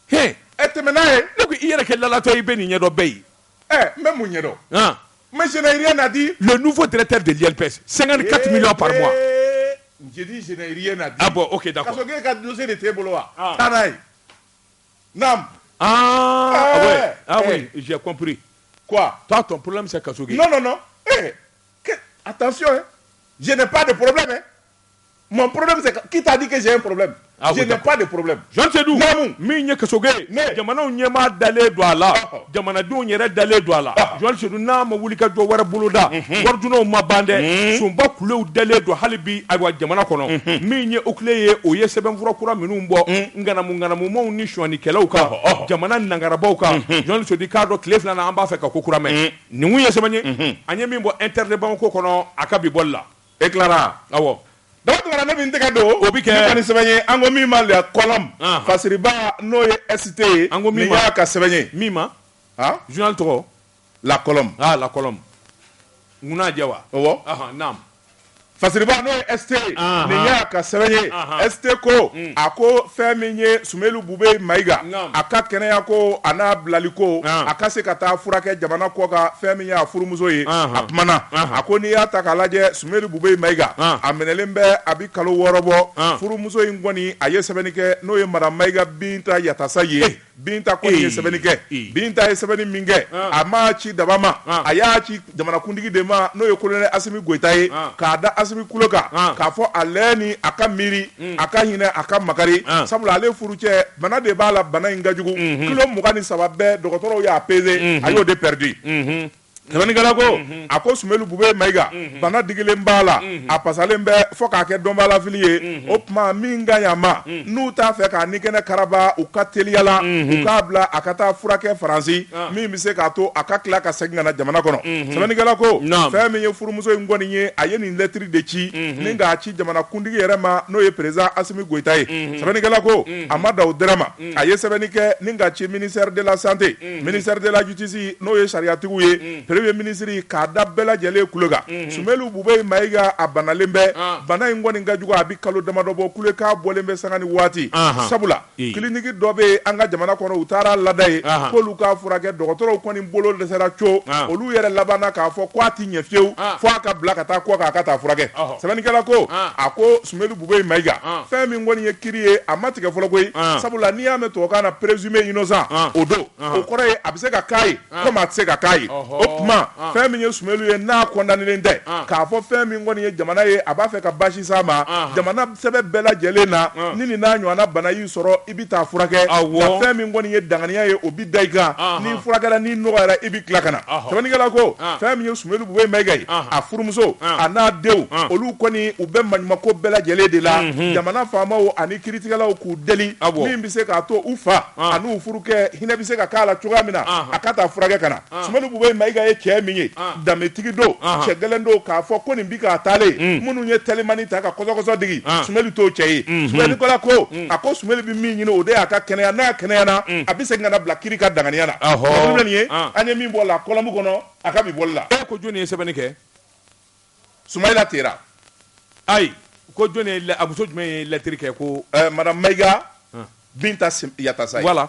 h e tɛmɛ n'a ye ne ko i yɛrɛ kɛ latɔ i bɛ nin ɲɛdɔn bɛɛ ye ɛ n bɛ mun ɲɛdɔn n senyi na di fɔ tɛ tɛ deli psi sanga ka tɛmɛ la pa na bɔ o ke da e ka don de tɛ bolo wa taa n'a ye aapri t'a tɔ poro bɛ se ka so attention je n'ai pas de problème dɛ mon problème c'est qui t'a dit que j'ai un problème je n'ai pas de problème Jɔni Seyidu min ye Kasoge jamanaw ɲɛmaa dalen don a la jamanadenw yɛrɛ dalen don a la Jɔni Seyidu n'a ma wuli ka jɔ wɛrɛ boloda waridunnaw ma ban dɛ sunba kulew dalen don hali bi awa jamana kɔnɔ min ye o tile ye o ye sɛbɛnfura kura minnu bɔ ŋanamuŋanamumaw ni sɔnikɛlaw kan jamana nankarabagaw kan Jɔni Seyidu k'a dɔn tile fila an b'a fɛ ka ko kura mɛn Nin kun ye sɛbɛn ye an ye min bɔ Inter de Bamako kɔnɔ a ka bi bɔli la e tilara awɔ da tuma ne min tɛgɛ don o bɛ kɛ ni sɛbɛn ye an ko min ma La Colonne fasiriba n'o ye ST ye an ko min y'a ka sɛbɛn ye min ma a journal tɔgɔ La Colonne La Colonne munna'a jɛ wa Fasiriba n'o ye ST ye, anhan, nin y'a ka sɛbɛn ye, anhan, ST ko, un, a ko fɛn min ye Sumeyili Bube Mayiga, naamu, a ka kɛnɛya ko a n'a bilali ko, an, a ka se ka taa furakɛ jamana kɔkan fɛn min y'a furumuso ye, anhan, a kumana, anhan, a ko n'i y'a ta k'a lajɛ Sumeyili Bube Mayiga, an, a minɛlen bɛ a bɛ kalo wɔɔrɔ bɔ, an, furumuso in kɔni a ye sɛbɛnni kɛ n'o ye madame Mayiga Binta Yatasaye Binta kɔni ye sɛbɛnni kɛ binta ye sɛbɛnni min kɛ a m'a ci daba ma a y'a ci jamanakuntigi de ma n'o ye colonel Asimi Goyita ye k'a da Asimi kulo kan k'a fɔ a lajɛ ni a ka miiri a ka hinɛ a ka makari sabula ale furu cɛ bana de b'a la bana in ka jugu kilo mugan ni saba bɛɛ dɔgɔtɔrɔw y'a pese a y'o de pɛridi Sɛbɛnnikɛla ko a ko Sumeyili Bube Mayiga bana digilen b'a la a pasalen bɛ fɔ k'a kɛ dɔnbalafili ye o tuma min ka ɲi a ma n'u t'a fɛ k'a ni kɛnɛ karaba u ka teliya la u k'a bila a ka taa furakɛ faransi min bɛ se k'a to a ka tila ka segin ka na jamana kɔnɔ sɛbɛnnikɛla ko fɛn min ye furumuso in kɔni ye a ye nin lɛtiri de ci ni k'a ci jamanakuntigi yɛrɛ ma n'o ye président Asimi Goyita ye sɛbɛnnikɛla ko a ma dan o dɔrɔn ma a ye sɛbɛnni kɛ ni k'a ci ministère de la santé ministère de la justice n'o ye sariyatigiw ye premier ministre k'a da bɛɛ lajɛlen kulo kan Sumelu Bubeyi Mayiga a banalen bɛ bana in kɔni ka jugu a bɛ kalo damadɔ bɔ kule k'a bɔlen bɛ sanga ni waati sabula kliniki dɔ bɛ an ka jamana kɔnɔ u taara lada yen k'olu k'a furakɛ dɔgɔtɔrɔw kɔni bolo dɛsɛra co olu yɛrɛ labanna k'a fɔ k' a tɛ ɲɛ fewu fo a ka bila ka taa kɔkan a ka taa furakɛ sɛbɛnnikɛla ko a ko Sumelu Bubeyi Mayiga, an, fɛn min kɔni ye kiri ye a ma tigɛ fɔlɔ koyi, an, sabula n'i y'a mɛn tubabukan na présumé innocent an, o don, anhan, o kɔrɔ ye a bɛ se ka k'a ye an, comme a tɛ se ka k'a ye, ɔhɔ, o tuma an, fɛn min ye Sumelu ye n'a condamnélen tɛ, an, k'a fɔ fɛn min kɔni ye jamana ye a b'a fɛ ka basi s'a ma, anhan, jamana sɛbɛn bɛɛ lajɛlen na, an, ni nin n'a ɲɔgɔnna bana y'i sɔrɔ i bɛ taa furakɛ nka fɛn min kɔni ye danganiya ye o bɛ da i kan n'i furakɛra n'i nɔgɔyara i bɛ tila ka na sɛbɛnnikɛla ko fɛn min ye Sumelu Bubeyi Mayiga ye a furumuso a n'a denw olu kɔni u bɛ maɲumako bɛɛ lajɛlen de la jamana faamaw ani kiiritigɛlaw k'u deli min bɛ se k'a to u fa ani n'u furukɛ hinɛ bɛ se ka k'a la cogoya min na a ka taa furakɛ ka na Sumelu Bubeyi Mayiga ye cɛ min ye danbetigi don cɛ gɛlɛn don k'a fɔ ko nin bi k'a taalen minnu ye telimani ta ka kɔsɔkɔsɔ digi Sumelu t'o cɛ ye sɛbɛnnikɛla ko a ko Sumelu bɛ min ɲini o de y'a ka kɛnɛya n'a kɛnɛyana a bɛ segin ka na bila kiri ka danganiya la nin ye an ye min bɔ la kɔlɔmu kɔnɔ a ka bi bɔli la ko jɔnni ye sɛbɛnni kɛ Sumayila Tera ayi ko a muso jumɛn ye lɛtiri kɛ ko madame Mayiga Binta Yatasa wala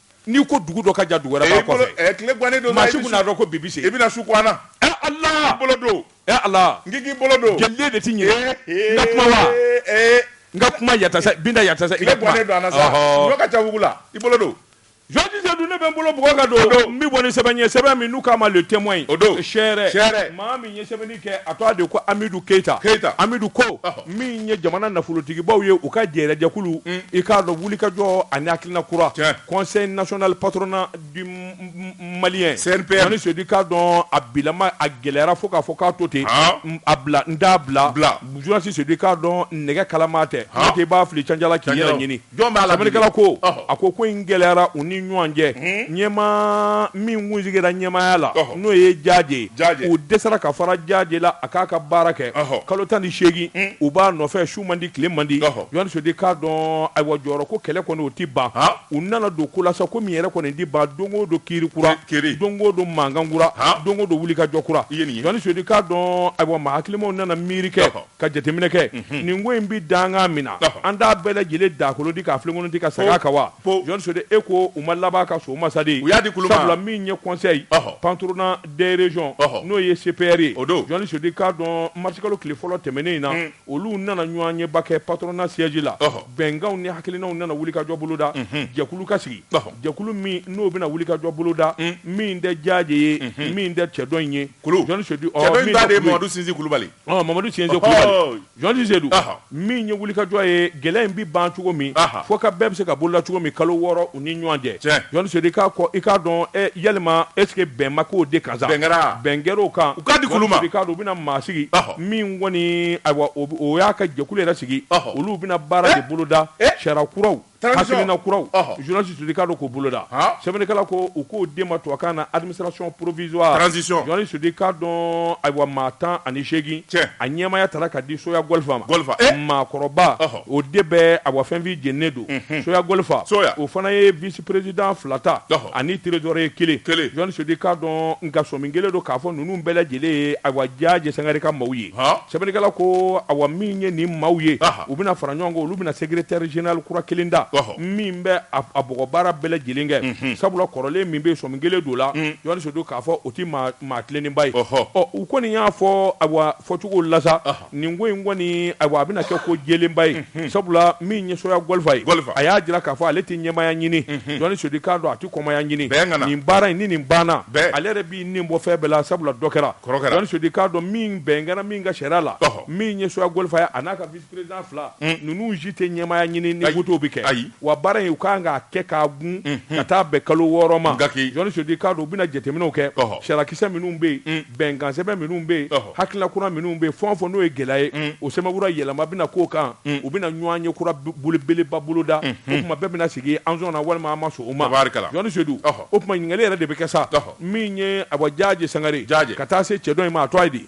n'i ko dugu dɔ ka jan dugu wɛrɛ b'a kɔfɛ eh, eh, tile gannen don maa si kun n'a dɔn ko bibi se i bɛna su ko an na ɛ eh, ala i bolo don ɛ ala n k'i bolo don jɛliden de ti ɲɛ n ka kuma wa n ka kuma yatasa binta yatasa i ka kuma tile gannen don a na sa ɲɔ ka ca wugu la i bolo don Jɔnji Seydou ne bɛ n bolo bugɔ ka don n bɛ bɔ ni sɛbɛn ye sɛbɛn min n'u k'a ma le témoin o don seere maa min ye sɛbɛnni a tɔgɔ de ko amidu keyita amidu ko min ye jamana nafolotigibaw ye u ka jɛrɛjɛkulu mm. i k'a dɔn wulikajɔ ani hakilina kura Conseil national patronat du malien Jɔnji Seydou k'a dɔn a bilama a gɛlɛyara fo k'a fɔ k'a to ten a bila n t'a bila Jɔnji Seydou k'a dɔn nɛgɛ kalama tɛ n'o tɛ i b'a fili canja k'i yɛrɛ ɲini Jɔn b'a la bi? Sɛbɛnnikɛla ko, Ɔhɔ. a ko ko in gɛlɛyara u ni ɲɔgɔn cɛ, ɲɛmaa min kun sigira ɲɛmaaya la, Ɔhɔ. n'o ye Jaje ye, Jaje. u dɛsɛra ka fara Jaje la a k'a ka baara kɛ, Ɔhɔ. kalo tan ni seegin u b'a nɔfɛ su man di tile man di, Ɔhɔ. Jɔnji Seydou k'a dɔn ayiwa jɔyɔrɔ ko kɛlɛ kɔni o tɛ ban, Han. u nana don ko la sa ko min yɛrɛ kɔni tɛ ban don o don kiiri kura, Ki- kiiri. don o don mankan kura, Han. don o don wulikajɔ kura, I ye nin ye. Jɔnji Seydou k'a dɔn ayiwa maa hakilimaw nana miiri kɛ, Ɔhɔ. Ka jateminɛ kɛ nin ko in bɛ dankan min na an t'a bɛɛ lajɛlen dakolon ti ka filenkolon ti ka segin a kan wa Jɔnji Seidu e ko u ma laban ka so masadi sabula min ye conseil patronal des régions n'o ye CPR ye Jɔnji Seidu k'a dɔn marisikalo tile fɔlɔ tɛmɛnen in na olu nana ɲɔgɔnyeba kɛ patronat siège la bɛnkanw ni hakilinaw nana wulikajɔ boloda jɛkulu ka sigi jɛkulu min n'o bɛna wulikajɔ boloda min tɛ Jaje ye min tɛ cɛ dɔ in ye Jɔnji Seidu Mamadu Sinsi Kulubali Ɔ Mamadu Sinsi Kulubali, ɔhɔɔ, Jɔnji Seidu, ɔhɔ, min ye wulikajɔ ye gɛlɛya in bɛ ban cogo min, ɔhɔ, fɔ ka bɛɛ bɛ se ka boloda cogo min kalo wɔɔrɔ u ni ɲɔgɔn cɛ, tiɲɛ, Jɔnji Seidu i k'a kɔ i k'a dɔn ɛ yalima est ce que bɛn ma k'o de kan sa, bɛn kɛra, bɛn kɛra o kan, u k'a di kulu ma, Jɔnji Seidu i k'a dɔn u bɛna maa sigi, ɔhɔ, min kɔni ayiwa o y'a ka jɛkulu yɛrɛ sigi, ɔhɔ, olu bɛna baara de boloda, e, sariya kuraw Hakilina kuraw Jɔnji Seidu k'a dɔn k'o boloda sɛbɛnnikɛla ko u k'o de ma tubabukan na administration provisoire Jɔnji Seidu k'a dɔn ayiwa maa tan ani seegin a ɲɛmaya taara ka di Soya Gɔlifa ma maakɔrɔba o de bɛ a fɛnfin jeni don Soya Gɔlifa o fana ye vice président fila ta ani trésorier kelen Jɔnji Seidu k'a dɔn nka sɔmi kɛlen don k'a fɔ ninnu bɛɛ lajɛlen ye a Jaje Sangare ka maaw ye sɛbɛnnikɛla ko a min ye nin maaw ye U bɛna fara ɲɔgɔn kan olu bɛna secrétaire général kura kelen ta min bɛ a bɔgɔbaara bɛɛ lajɛlen kɛ sabula kɔrɔlen min bɛ sɔmi kɛlen don a la Jɔnji Seidu k'a fɔ o tɛ maa tilennenba ye ɔ u kɔni y'a fɔ a fɔcogo la nin ko in kɔni a a bɛna kɛ ko jɛlenba ye sabula min ye Soya Gɔlifa ye a y'a jira k'a fɔ ale tɛ ɲɛmaya ɲini Seidu k'a dɔn a tɛ kɔmaya ɲini kana nin baara in ni nin banna ale yɛrɛ b'i nin bɔ fɛn bɛɛ la sabula dɔ kɛra Seidu k'a dɔn min bɛn kɛra min ka sariya la min ye Soya Gɔlifa ye a n'a ka vice président fila ninnu si tɛ ɲɛmaya ɲini ni vote bɛ kɛ ayiwa baara in u ka kan k'a kɛ k'a gun ka taa bɛn kalo wɔɔrɔ ma gaki Jɔnji Seidu k'a dɔn u bɛna jateminɛw kɛ sariyakisɛ minnu bɛ yen bɛnkansɛbɛn minnu bɛ yen hakilina kura minnu bɛ yen fɛn o fɛn n'o ye gɛlɛya ye o sɛbɛn kura yɛlɛma bɛna k'o kan u bɛna ɲɔgɔnye kura belebeleba boloda o tuma bɛɛ bɛna sigi anw sɔnna walima an ma sɔn o ma Jɔnji Seidu o tuma ɲininkali yɛrɛ de bɛ kɛ sa min ye a Jaje Sangare ka taa se cɛ dɔ in ma a tɔgɔ ye di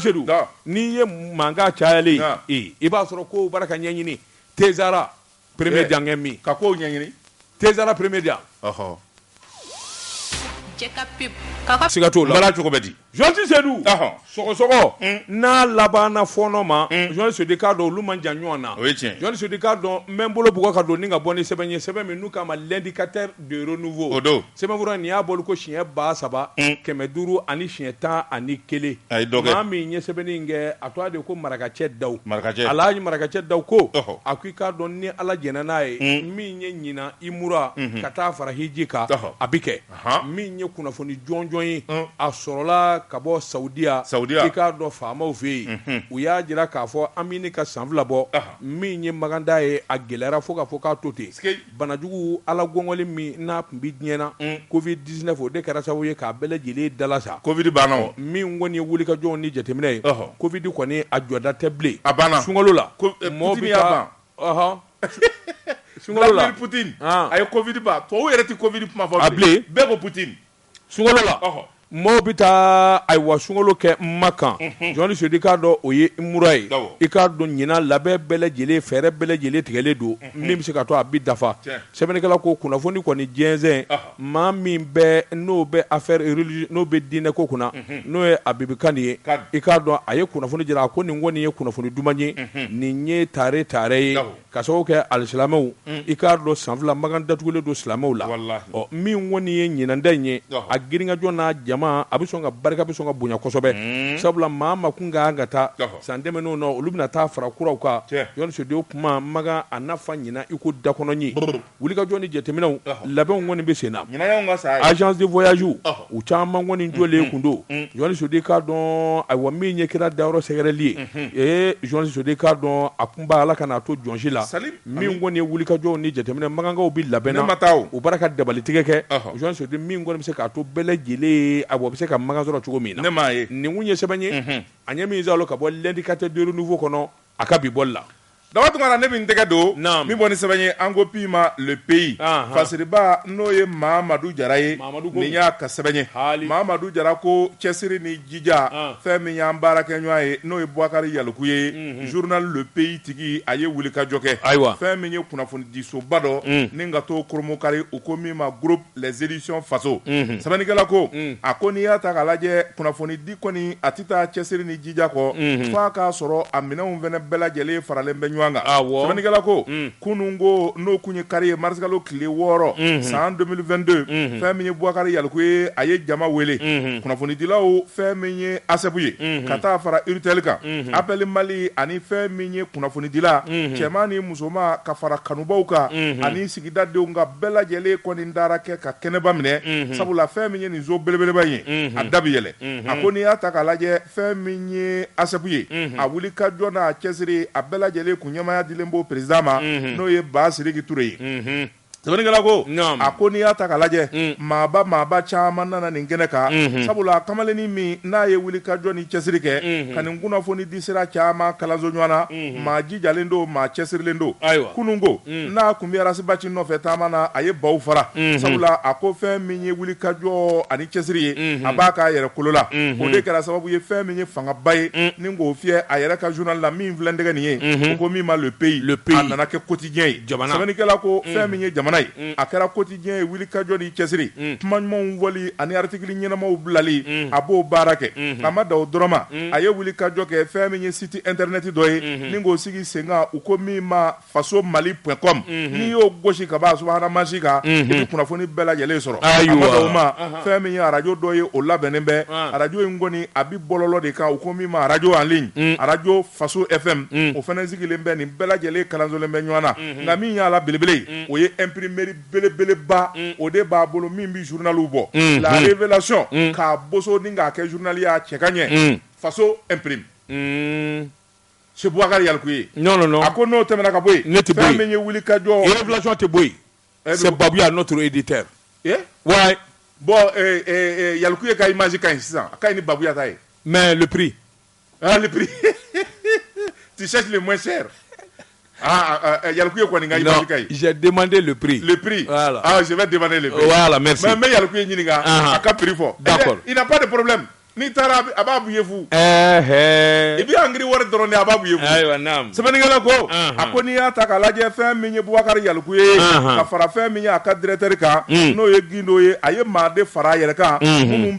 Seidu n'i ye mankan cayalen i b'a sɔrɔ ko baara ka ɲɛɲini tera peree jankɛ min ka ko ɲɛɲini tera pereme diya siga t'o la cogo di Jɔnji Seidu sɔgɔsɔgɔ n'a labanna fɔɔnɔ ma Jɔnji Seidu k'a dɔn olu man jan ɲɔgɔn na Jɔnji Seidu k'a dɔn n bɛ n bolo bugɔ ka don ni ka bɔ ni sɛbɛn ye sɛbɛn min n'u k'a ma L'Indicateur du Renouveau Sɛbɛnfura nin y'a bɔli ko siɲɛ ba saba kɛmɛ duuru ani siɲɛ tan ani kelen maa min ye sɛbɛnni kɛ a tɔgɔ de ye ko marakacɛ da wala marakacɛ dawu ko a ko i k'a dɔn ni ala jɛnna n'a ye min ye ɲinan umura ka taa fara hiji kan a bɛ kɛ min ye kunnafoni jɔnjɔn ye a sɔrɔla ka bɔ saudiya i k'a dɔn faamaw fɛ yen u y'a jira k'a fɔ an bɛ ɲini ka san fila bɔ min ye makan taa ye a gɛlɛyara fo k'a fɔ k'a to ten Banajugu Ala gɔngɔli min n'a tun bɛ diɲɛ na, Covid 19, o de kɛra sababu ye k'a bɛɛ lajɛlen dalasa. Covid banna o. Min kɔni ye wulikajɔw ni jateminɛ ye, Covid kɔni a jɔda tɛ bilen. A banna. Sunkalo la. Ko Putin y'a ban. Ɔhɔn. Sunkalo la. Vladimir Putin, a ye Covid ban. Tubabuw yɛrɛ tɛ Covid kuma fɔ bilen. A bilen. Bɛɛ ko Putin. sunkalo la maaw bɛ taa ayiwa sunkalo kɛ makan jɔnni seyidu i k'a dɔn o ye umura ye i k'a dɔn ɲinan labɛn bɛɛ lajɛlen fɛɛrɛ bɛɛ lajɛlen tigɛlen don min bɛ se k'a to a bɛ dafa sɛbɛnnikɛla ko kunnafoni kɔni jɛnsɛn maa min bɛ n'o bɛ affaire religieux n'o bɛ diinɛ ko kunna n'o ye abibu kani ye i k'a dɔn a ye kunnafoni jira a ko nin kɔni ye kunnafoni duman ye nin ye tare tare ye Ka sababu kɛ alisilamɛw unn i k'a dɔn san 2 makan datugulen don silamɛw la walahi ɔ min kɔni ye ɲinan ta in ye ɔhɔ a girinkajɔ n'a jama a bɛ sɔn ka barika bɛ sɔn ka bonya kosɛbɛ uun sabula maa o maa kun ka kan ka taa ɔhɔ san tɛmɛnenw na olu bɛna taa fara kuraw kan tiɲɛ jɔnni seyidu o tuma makan a na fa ɲinan i ko dakɔnɔɲin brrr Wulikajɔ ni jateminɛw labɛnw kɔni bɛ sen na agence de voyage u caman kɔni jɔlen tun don jɔnni seyidu i k'a dɔn ayiwa min ye kira dayɔrɔ sɛgɛrɛli ye ee jɔnni seyidu i k'a dɔn a tun b'a ala kan'a to jɔn si la min kɔni ye wulikajɔ ni jateminɛ makankaw bɛ labɛn na ma taa u bara ka dabalitigɛ kɛ jɔnni seyidu min kɔni bɛ se k'a to bɛɛ lajɛlen a bɛ se ka makan sɔrɔ cogo min na nin tun ye sɛbɛn ye an ye min ka bɔ l'indicateur du renouveau kɔnɔ a ka bi bɔli la Daba tunkara ne bɛ n tɛgɛ don min bɔ ni sɛbɛn ye an ko bi ma le pays fasiriba n'o ye mamadu jara ye nin y'a ka sɛbɛn ye mamadu jara ko cɛsiri ni jija fɛn min y'an baarakɛɲɔgɔn ye n'o ye bubakari yalikuye journal le pays tigi a ye wulikajɔ kɛ ayiwa fɛn min ye kunnafonidisoba dɔ ni ka to koromkari u ko min ma g éditions faso sɛbɛnnikɛla ko a ko n'i y'a ta k'a lajɛ kunnafoni di kɔni a tɛ taa cɛsiri ni jija kɔ fo a k'a sɔrɔ a minɛnw fana bɛɛ lajɛlen faralen bɛ ɲɔgɔn kan sɛbɛnnikɛla ko kunun ko n'o tun ye kari ye marisikalo tile wɔɔrɔ san 2022 fɛn min ye bubakari yalikuye a ye jama wele kunnafonidilaw fɛn min ye ASSEP ye ka taa fara URTEL kan APPEL Mali ani fɛn min ye kunnafonidila cɛman ni musoman ka fara kanubaw kan ani sigi Sigida denw ka bɛɛ lajɛlen kɔni dara kɛ ka kɛnɛba minɛ sabula fɛn min ye nin so belebeleba ye a da bɛ yɛlɛ a ko n'i y'a ta k'a lajɛ fɛn min ye ASSEP ye a wulikajɔ n'a cɛsiri a bɛɛ lajɛlen kun ɲɛmaaya dilen b'o président ma n'o ye Bassidiki Touré ye sɛbɛnnikɛla ko a ko n'i y'a ta k'a lajɛ maaba maaba caman nana nin kɛnɛ kan sabula kamalennin min n'a ye wulikajɔ ni cɛsiri kɛ ka nin kunnafoni di sira caman kalanso ɲɔgɔn na jijalen don maa cɛsirilen don kununko n'a kun bɛ Ras Bath nɔfɛ taama na a ye baw fara sabula a ko fɛn min ye wulikajɔ ani cɛsiri ye a b'a k'a yɛrɛ kolo la o de kɛra sababu ye fɛn min ye fangaba ye ni k'o fiyɛ a yɛrɛ ka journal la min filɛ n tɛgɛ nin ye u ko min ma Le Pays a nana kɛ quotidien ye sɛbɛnnikɛla ko fɛn min ye jamana ye a kɛra kotigi ɲɛ ye wulikajɔ ni cɛsiri mm. kuma ɲumanw fɔli ani artikili ɲɛnamaw bilali mm. a b'o baara kɛ mm-hmm. a ma da o dɔrɔn ma mm. a ye wulikajɔ kɛ fɛn min ye siti intɛrɛnɛti dɔ ye mm-hmm. ni k'o sigi sen kan u ko min ma faso mali pɔn kɔm mm-hmm. n'i y'o gosi ka b'a subahana mansin kan i bɛ kunnafoni bɛɛ lajɛlen sɔrɔ a ma da o ma uh-huh. fɛn min ye arajo dɔ ye o labɛnnen bɛ ah. arajo in kɔni a bi bɔlɔlɔ de kan u ko min ma arajo en ligne mm. arajo faso fm o fana sigilen bɛ nin bɛɛ lajɛlen kalansolen bɛ ɲɔgɔn na nka min y'a la belebele o ye imprimerie belebeleba o de b'a bolo min bɛ journaliw bɔ la révélation k'a boso ni k'a kɛ journal ye a cɛ ka ɲɛ faso imprime c'est Boubacar Yalkoué non non non a ko n'o tɛmɛna ka bɔ yen ne tɛ bɔ yen fɛn min ye wulikajɔ révélation tɛ bɔ yen c'est Babuya notre éditeur ouais bon Yalkoué ka image ka ɲi sisan a ka ɲi ni Babuya ta ye mais le prix tu cherches le moins cher Yalkoué kɔni ka demander le prix le prix mais n bɛ Yalkoué ɲininka a ka prix fɔ d'accord il n'y a pas de problème n'i taara a b'a b'i ye fu i bɛ ankiri wari dɔrɔn a b'a b'i ye fu sɛbɛnnikɛla ko a ko n'i y'a ta k'a lajɛ fɛn min ye Boubacar Yalkoué ye ka fara fɛn min ye a ka directeur kan n'o ye Gindo ye a ye maa de fara a yɛrɛ kan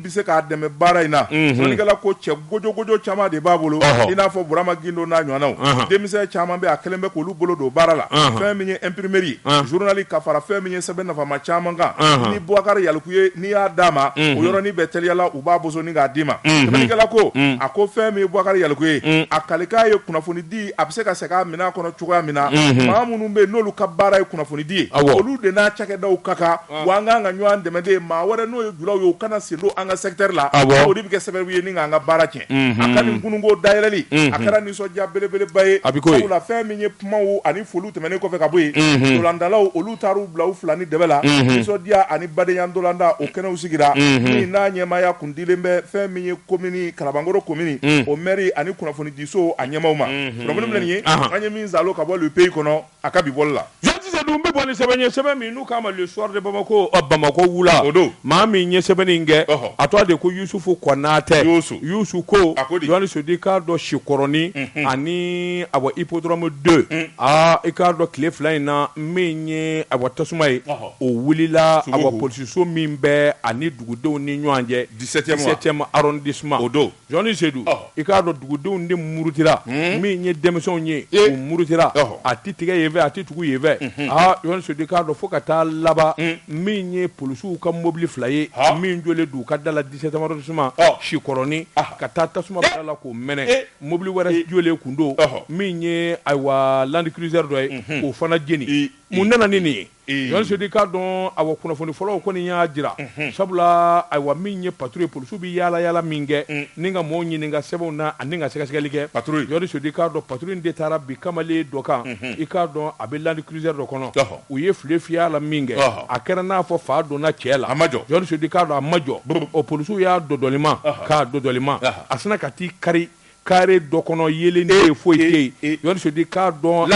bɛ se k'a dɛmɛ baara in na sɛbɛnnikɛla ko cɛ gojɔgojɔ caman de b'a bolo i n'a fɔ Burama Gindo n'a ɲɔgɔnnaw denmisɛn caman bɛ a kɛlen bɛ k'olu bolo don baara la fɛn min ye imprimerie journali ka fara fɛn min ye sɛbɛn nafama caman kan ni Boubacar Yalkoué n'i y'a d'a ma o yɔrɔnin bɛɛ teliya la u b'a boso ni k'a d'i ma sɛbɛnnikɛla ko a ko fɛn min ye Boubacar Yalkoué ye a kalikan ye kunnafoni di a bɛ se ka segin minɛn kɔnɔ cogoya min na maa minnu bɛ yen n'olu ka baara ye kunnafonidi ye olu de n'a cakɛdaw ka kan wa an kan ka ɲɔgɔn dɛmɛ de maa wɛrɛ n'o ye julaw ye u kana sen don an ka secteur la o de bɛ kɛ sababu ye ni k'an ka baara tiɲɛ a ka nin kununko dayɛlɛli a kɛra nisɔndiya belebeleba ye sabula fɛn min ye kumaw ani foliw tɛmɛnen kɔfɛ ka bɔ yen dolandalaw olu taara u bila u fila ni dɛbɛ la nisɔndiya ani badenya dolanda o kɛnɛw sigira min n'a ɲɛmaaya kun dilen bɛ fɛn min ye komini Kalabankɔrɔ komini o mɛri ani kunnafonidiso a ɲɛmaaw ma minnu ye an ye min sa ka bɔ Le Pays kɔnɔ a ka bi bɔli la. Jean Cisse dun bɛ bɔ ni sɛbɛn ye, sɛbɛn min n'u k'a ma Le Soir de Bamako, ɔ Bamakɔ wula, o don, maa min ye sɛbɛnni in kɛ, ɔhɔ, a tɔgɔ de ko Yusufu Kɔnatɛ, Yusu, Yusu ko, a ko di, Yohani Sodi, k'a dɔn Sikɔrɔni, unhun, ani awɔ Hippodrome 2, un, aa i k'a dɔn tile fila in na min ye awɔ tasuma ye, ɔhɔ, o wulila awɔ polisiso min bɛ ani dugudenw ni ɲɔgɔn cɛ 17 ème arrondissement o don. Jɔnni Sedu i k'a dɔn dugudenw de murutira min ye denmisɛnw ye u murutira a tɛ tigɛ yenfɛ a tɛ tugu yenfɛ aa Jɔnni Sedu i k'a dɔn fo ka taa laban min ye polisiw ka mɔbili fila ye min jɔlen don u ka da la 17 ème arrondissement Sikɔrɔni ka taa tasuma bila a la k'o mɛnɛ mɔbili wɛrɛ jɔlen kun don min ye ayiwa Land Cruiser dɔ ye k'o fana jeni mun nana ni nin ye Di k'a dɔn ayiwa kunnafoni fɔlɔw kɔni y'a jira sabula ayiwa min ye patrouille ye polisiw bɛ yaala yaala min kɛ ni ka maaw ɲininka sɛbɛnw na ani ka sɛgɛsɛgɛli kɛ Jean Sodi k'a dɔn patrouille in de taara bin kamalen dɔ kan i k'a dɔn a bɛ Land Cruiser dɔ kɔnɔ u ye file fiyɛ a la min kɛ a kɛra n'a fɔ fa donna cɛ la Jean Sodi k'a dɔn a ma jɔ o polisiw y'a dɔdɔlima k'a dɔdɔlima a sinna ka t'i kari carré dɔ kɔnɔ yeelen de foyi tɛ yen Jean Sodi k'a dɔn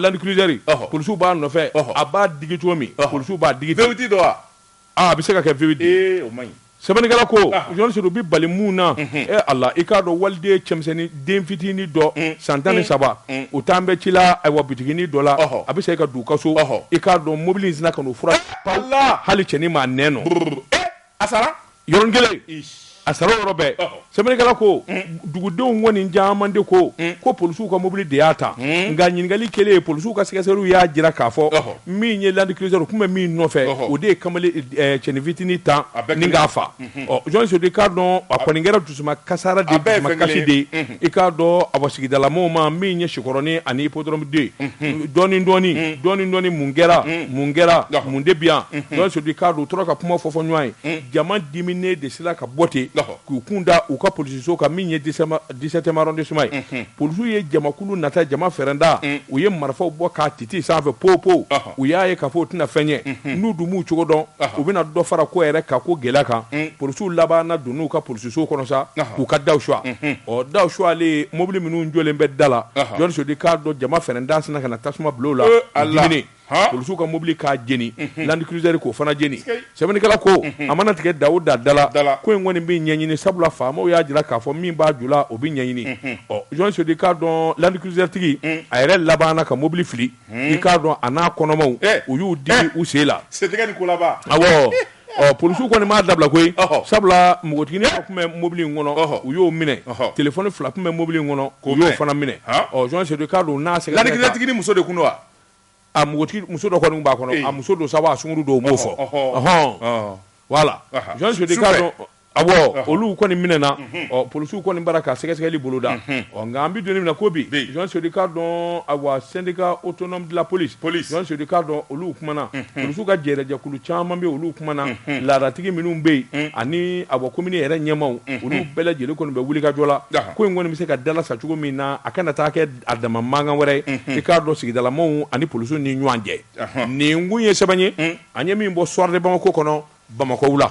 Land Cruiser polisiw b'a nɔfɛ a b'a digi cogo min polisiw b'a digi vitesse dɔ a bɛ se ka kɛ vitesse o man ɲi sɛbɛnnikɛla ko Jean Sodi bɛ bali mun na ɛ Ala i k'a dɔn waliden cɛmisɛnnin den fitinin dɔ san tan ni saba o tun bɛ ci la ayiwa bitiginin dɔ la a bɛ se ka don u ka so i k'a dɔn mobili in sinna ka n'a fura la hali cɛnin ma n nɔ a sara yɔrɔnin kelen a sara yɔrɔ bɛɛ sɛbɛnnikɛla ko dugudenw kɔni caman de ko ko polisiw ka mobili de y'a ta nka ɲininkali kɛlen ye polisiw ka sɛgɛsɛgɛliw y'a jira k'a fɔ min ye Land Cruiser u tun bɛ min nɔfɛ o de ye kamalen cɛnin fitinin tan ni k'a fa ɔ Jean Sodi k'a dɔn a kɔni kɛra dusuma kasara de dusuma kasi de ye i k'a dɔn awɔ sigidalamaw ma min ye Sikɔrɔni ani Hippodrome 2 dɔɔni dɔɔni dɔɔni mun kɛra mun kɛra mun de bi yan Jean Sodi k'a dɔn u tora ka kuma fɔ fɔ ɲɔgɔn ye jama diminen de sera ka bɔ ten k'u kun da u ka polisiso kan min ye 17 ème arrondissement ye polisiw ye jamakulu nata jama fɛrɛnda u ye marifaw bɔ k'a titi sanfɛ po po u y'a ye k'a fɔ u tɛna fɛn ye n'u dun m'u cogo dɔn u bɛna dɔ fara ko yɛrɛ ka ko gɛlɛya kan polisiw labanna don n'u ka polisiso kɔnɔ sa k'u ka da suwa ɔ da suwalen mobili minnu jɔlen bɛ da la Jean Sodi k'a dɔn jama fɛrɛnda sinna ka na tasuma bila a la polisiw ka mobili k'a jeni Land Cruiser k'o fana jeni sɛbɛnnikɛla ko a mana tigɛ da o da la la ko in kɔni bɛ ɲɛɲini sabula faamaw y'a jira k'a fɔ min b'a ju la o bɛ ɲɛɲini ɔ Jean Sodi k'a dɔn Land Cruiser tigi a yɛrɛ laban ka mobili fili i k'a dɔn a n'a kɔnɔmaw u y'u digi u sen la polisiw kɔni m'a dabila koyi sabula npogotiginin tun bɛ mobili in kɔnɔ u y'o minɛ telefɔni fila tun bɛ mobili in kɔnɔ u y'o fana minɛ jɔn Sedu k'a dɔn n'a seginnatigi muso de tun don wa a muso dɔ kɔni b'a kɔnɔ a muso don sabu a sungurun don u m'o fɔ hɔn wala jɔn A olu kɔni minɛna polisiw kɔni b'a la ka sɛgɛsɛgɛli boloda nka an bɛ don min ko bi jɔn Sedu k'a dɔn a syndicat autonome de la police jɔn Sedu k'a dɔn olu kumana polisiw ka jɛkulu caman bɛ olu kumana laadatigi minnu bɛ yen ani a komini yɛrɛ ɲɛmaw olu bɛɛ lajɛlen kɔni bɛ wuli ka jɔ la ko in kɔni bɛ se ka dalasa cogo min na a kana taa kɛ a dama mankan wɛrɛ ye i k'a dɔn sigidalamaw ani polisiw ni ɲɔgɔn cɛ nin kun ye sɛbɛn ye an ye min bɔ Soir de Bamako kɔnɔ bamakɔ la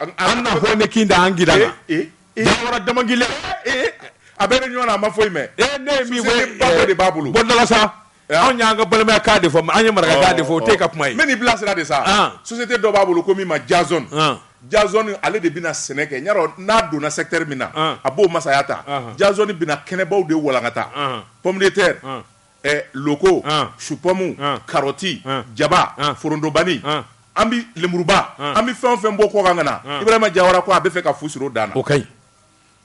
an na hɔ ne kin da an gida la jawara damangile a bɛ réunion na a ma foyi mɛn ne ye min fɔ ba dɔ de b'a bolo bondala sa anw y'an ka balimaya kan de fɔ an ye marakakan de fɔ o tɛ ka kuma ye n bɛ nin bilasira de sa société dɔ b'a bolo ko min ma jazɔn jazɔn ale de bɛna sɛnɛ kɛ jawara n'a donna secteur min na a b'o masaya ta jazɔn bɛna kɛnɛbaw de walankata pɔmitɛri loko supɔmu karɔti jaba forontobani an bɛ lenburuba an bɛ fɛn o fɛn bɔ kɔkan ka na ibrahima jawara ko a b'a fɛ ka fu siri o dan na o ka ɲi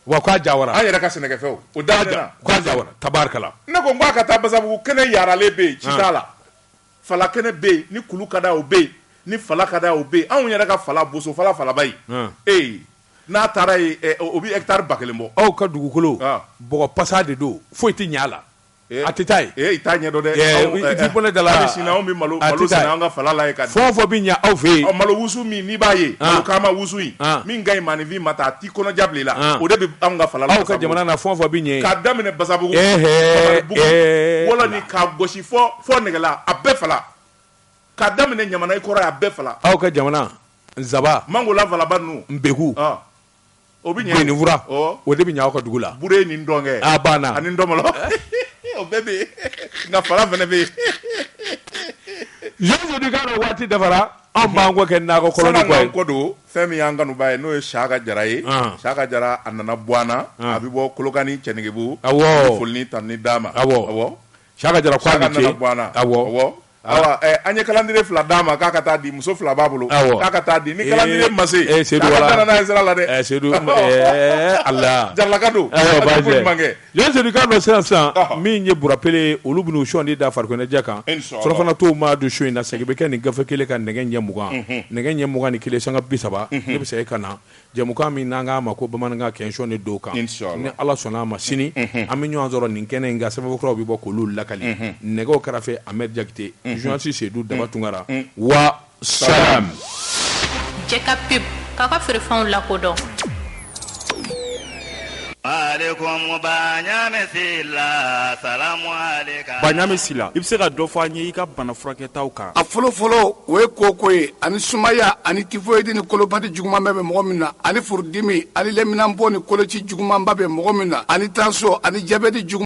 wa k'a ja an yɛrɛ ka sɛnɛfɛnw o da jawara tabarikala ne ko k'a ka taa basabugu kɛnɛ yaaralen bɛ yen ci t'a la fala kɛnɛ bɛ yen ni kulu ka d'a o bɛ yen ni fala ka d'a o bɛ yen anw yɛrɛ ka fala bosofala falaba ye e n'a taara yen o bɛ hectare ba kelen bɔ aw ka dugukolo bɔgɔ pasa de don foyi tɛ ɲɛ a la A tɛ taa yen i t'a ɲɛdɔn dɛ bɛ da la sin anw bɛ malo sɛnɛ an ka fala la fɛn o fɛn bɛ ɲɛ aw fɛ yen malo wusu min n'i b'a ye malo kaama wusu in min ka ɲi maaninfin ma ta a t'i kɔnɔja bila i la o de bɛ anw ka fala la aw ka jamana na fɛn o fɛn bɛ ɲɛ k'a daminɛ basabugu wɔlɔni k'a gosi fo nɛgɛla a bɛɛ fala k'a daminɛ ɲamana i kɔrɔ a bɛɛ fala aw ka jamana nsaban mangola falaba ninnu npeku o bɛ ɲɛ benifura o de bɛ ɲɛ aw ka dugu la buren ni ntɔngɛ a banna ani ntɔmɔlɔ o bɛɛ bɛ yen nka fala fana bɛ yen jɔn Sedu k'a dɔn waati dafara an b'an kɔ kɛ nakɔ kɔ don fɛn min y'an kanubaa ye n'o ye Saka Jara ye Saka Jara a nana bɔ an na a bɛ bɔ kolokani cɛnɛgɛbugu a foli ni tanuni d'a ma awɔ Saka Jara ko a ni ce, Saka nana bɔ an na, awɔ, awɔ, awa, ɛ, an ye kalandire fila d'a ma k'a ka taa di muso fila b'a bolo, awɔ, k'a ka taa di ni kalandire ma se, ee, ee, Sedu, wala, a nana sira la dɛ, ee, Sedu, ee, Ala, jaralaka don, ayiwa, baasi tɛ, ɲuman kɛ, Jɔn Sedu k'a dɔn sisan sisan, ɔhɔ, min ye burapele ye olu bɛna u sɔnin da farikoloɲɛnajɛ kan, inchallah, surafana tɔ ma dun su in na, segin bɛ kɛ nin gafe kelen kan nɛgɛ ɲɛ mugan, unhun, nɛgɛ ɲɛ mugan ni kelen sanga bi saba, unhun, ne bɛ segin ka na. Jɛmukan min n'an k'a ma ko bamanankan kɛsɔn de don kan ni ala sɔnna a ma sini an bɛ ɲɔgɔn sɔrɔ nin kɛnɛ in kan sɛbɛn kuraw bɛ bɔ k'olu lakali nɛgɛw kɛrɛfɛ amɛdi jakite journaliste seyidu daba tunkara wa salam k'a ka feerefɛnw lakodɔn Sila i bɛ se ka dɔ fɔ an ye i ka bana furakɛtaw kan a fɔlɔ fɔlɔ o ye koko ye ani sumaya ani tifɔyidi ni kolopati juguman bɛ mɔgɔ min na ani furudimi ani lɛminanpo ni koloci jugumanba bɛ mɔgɔ min na ani tansiyɔn ani jabɛti jugu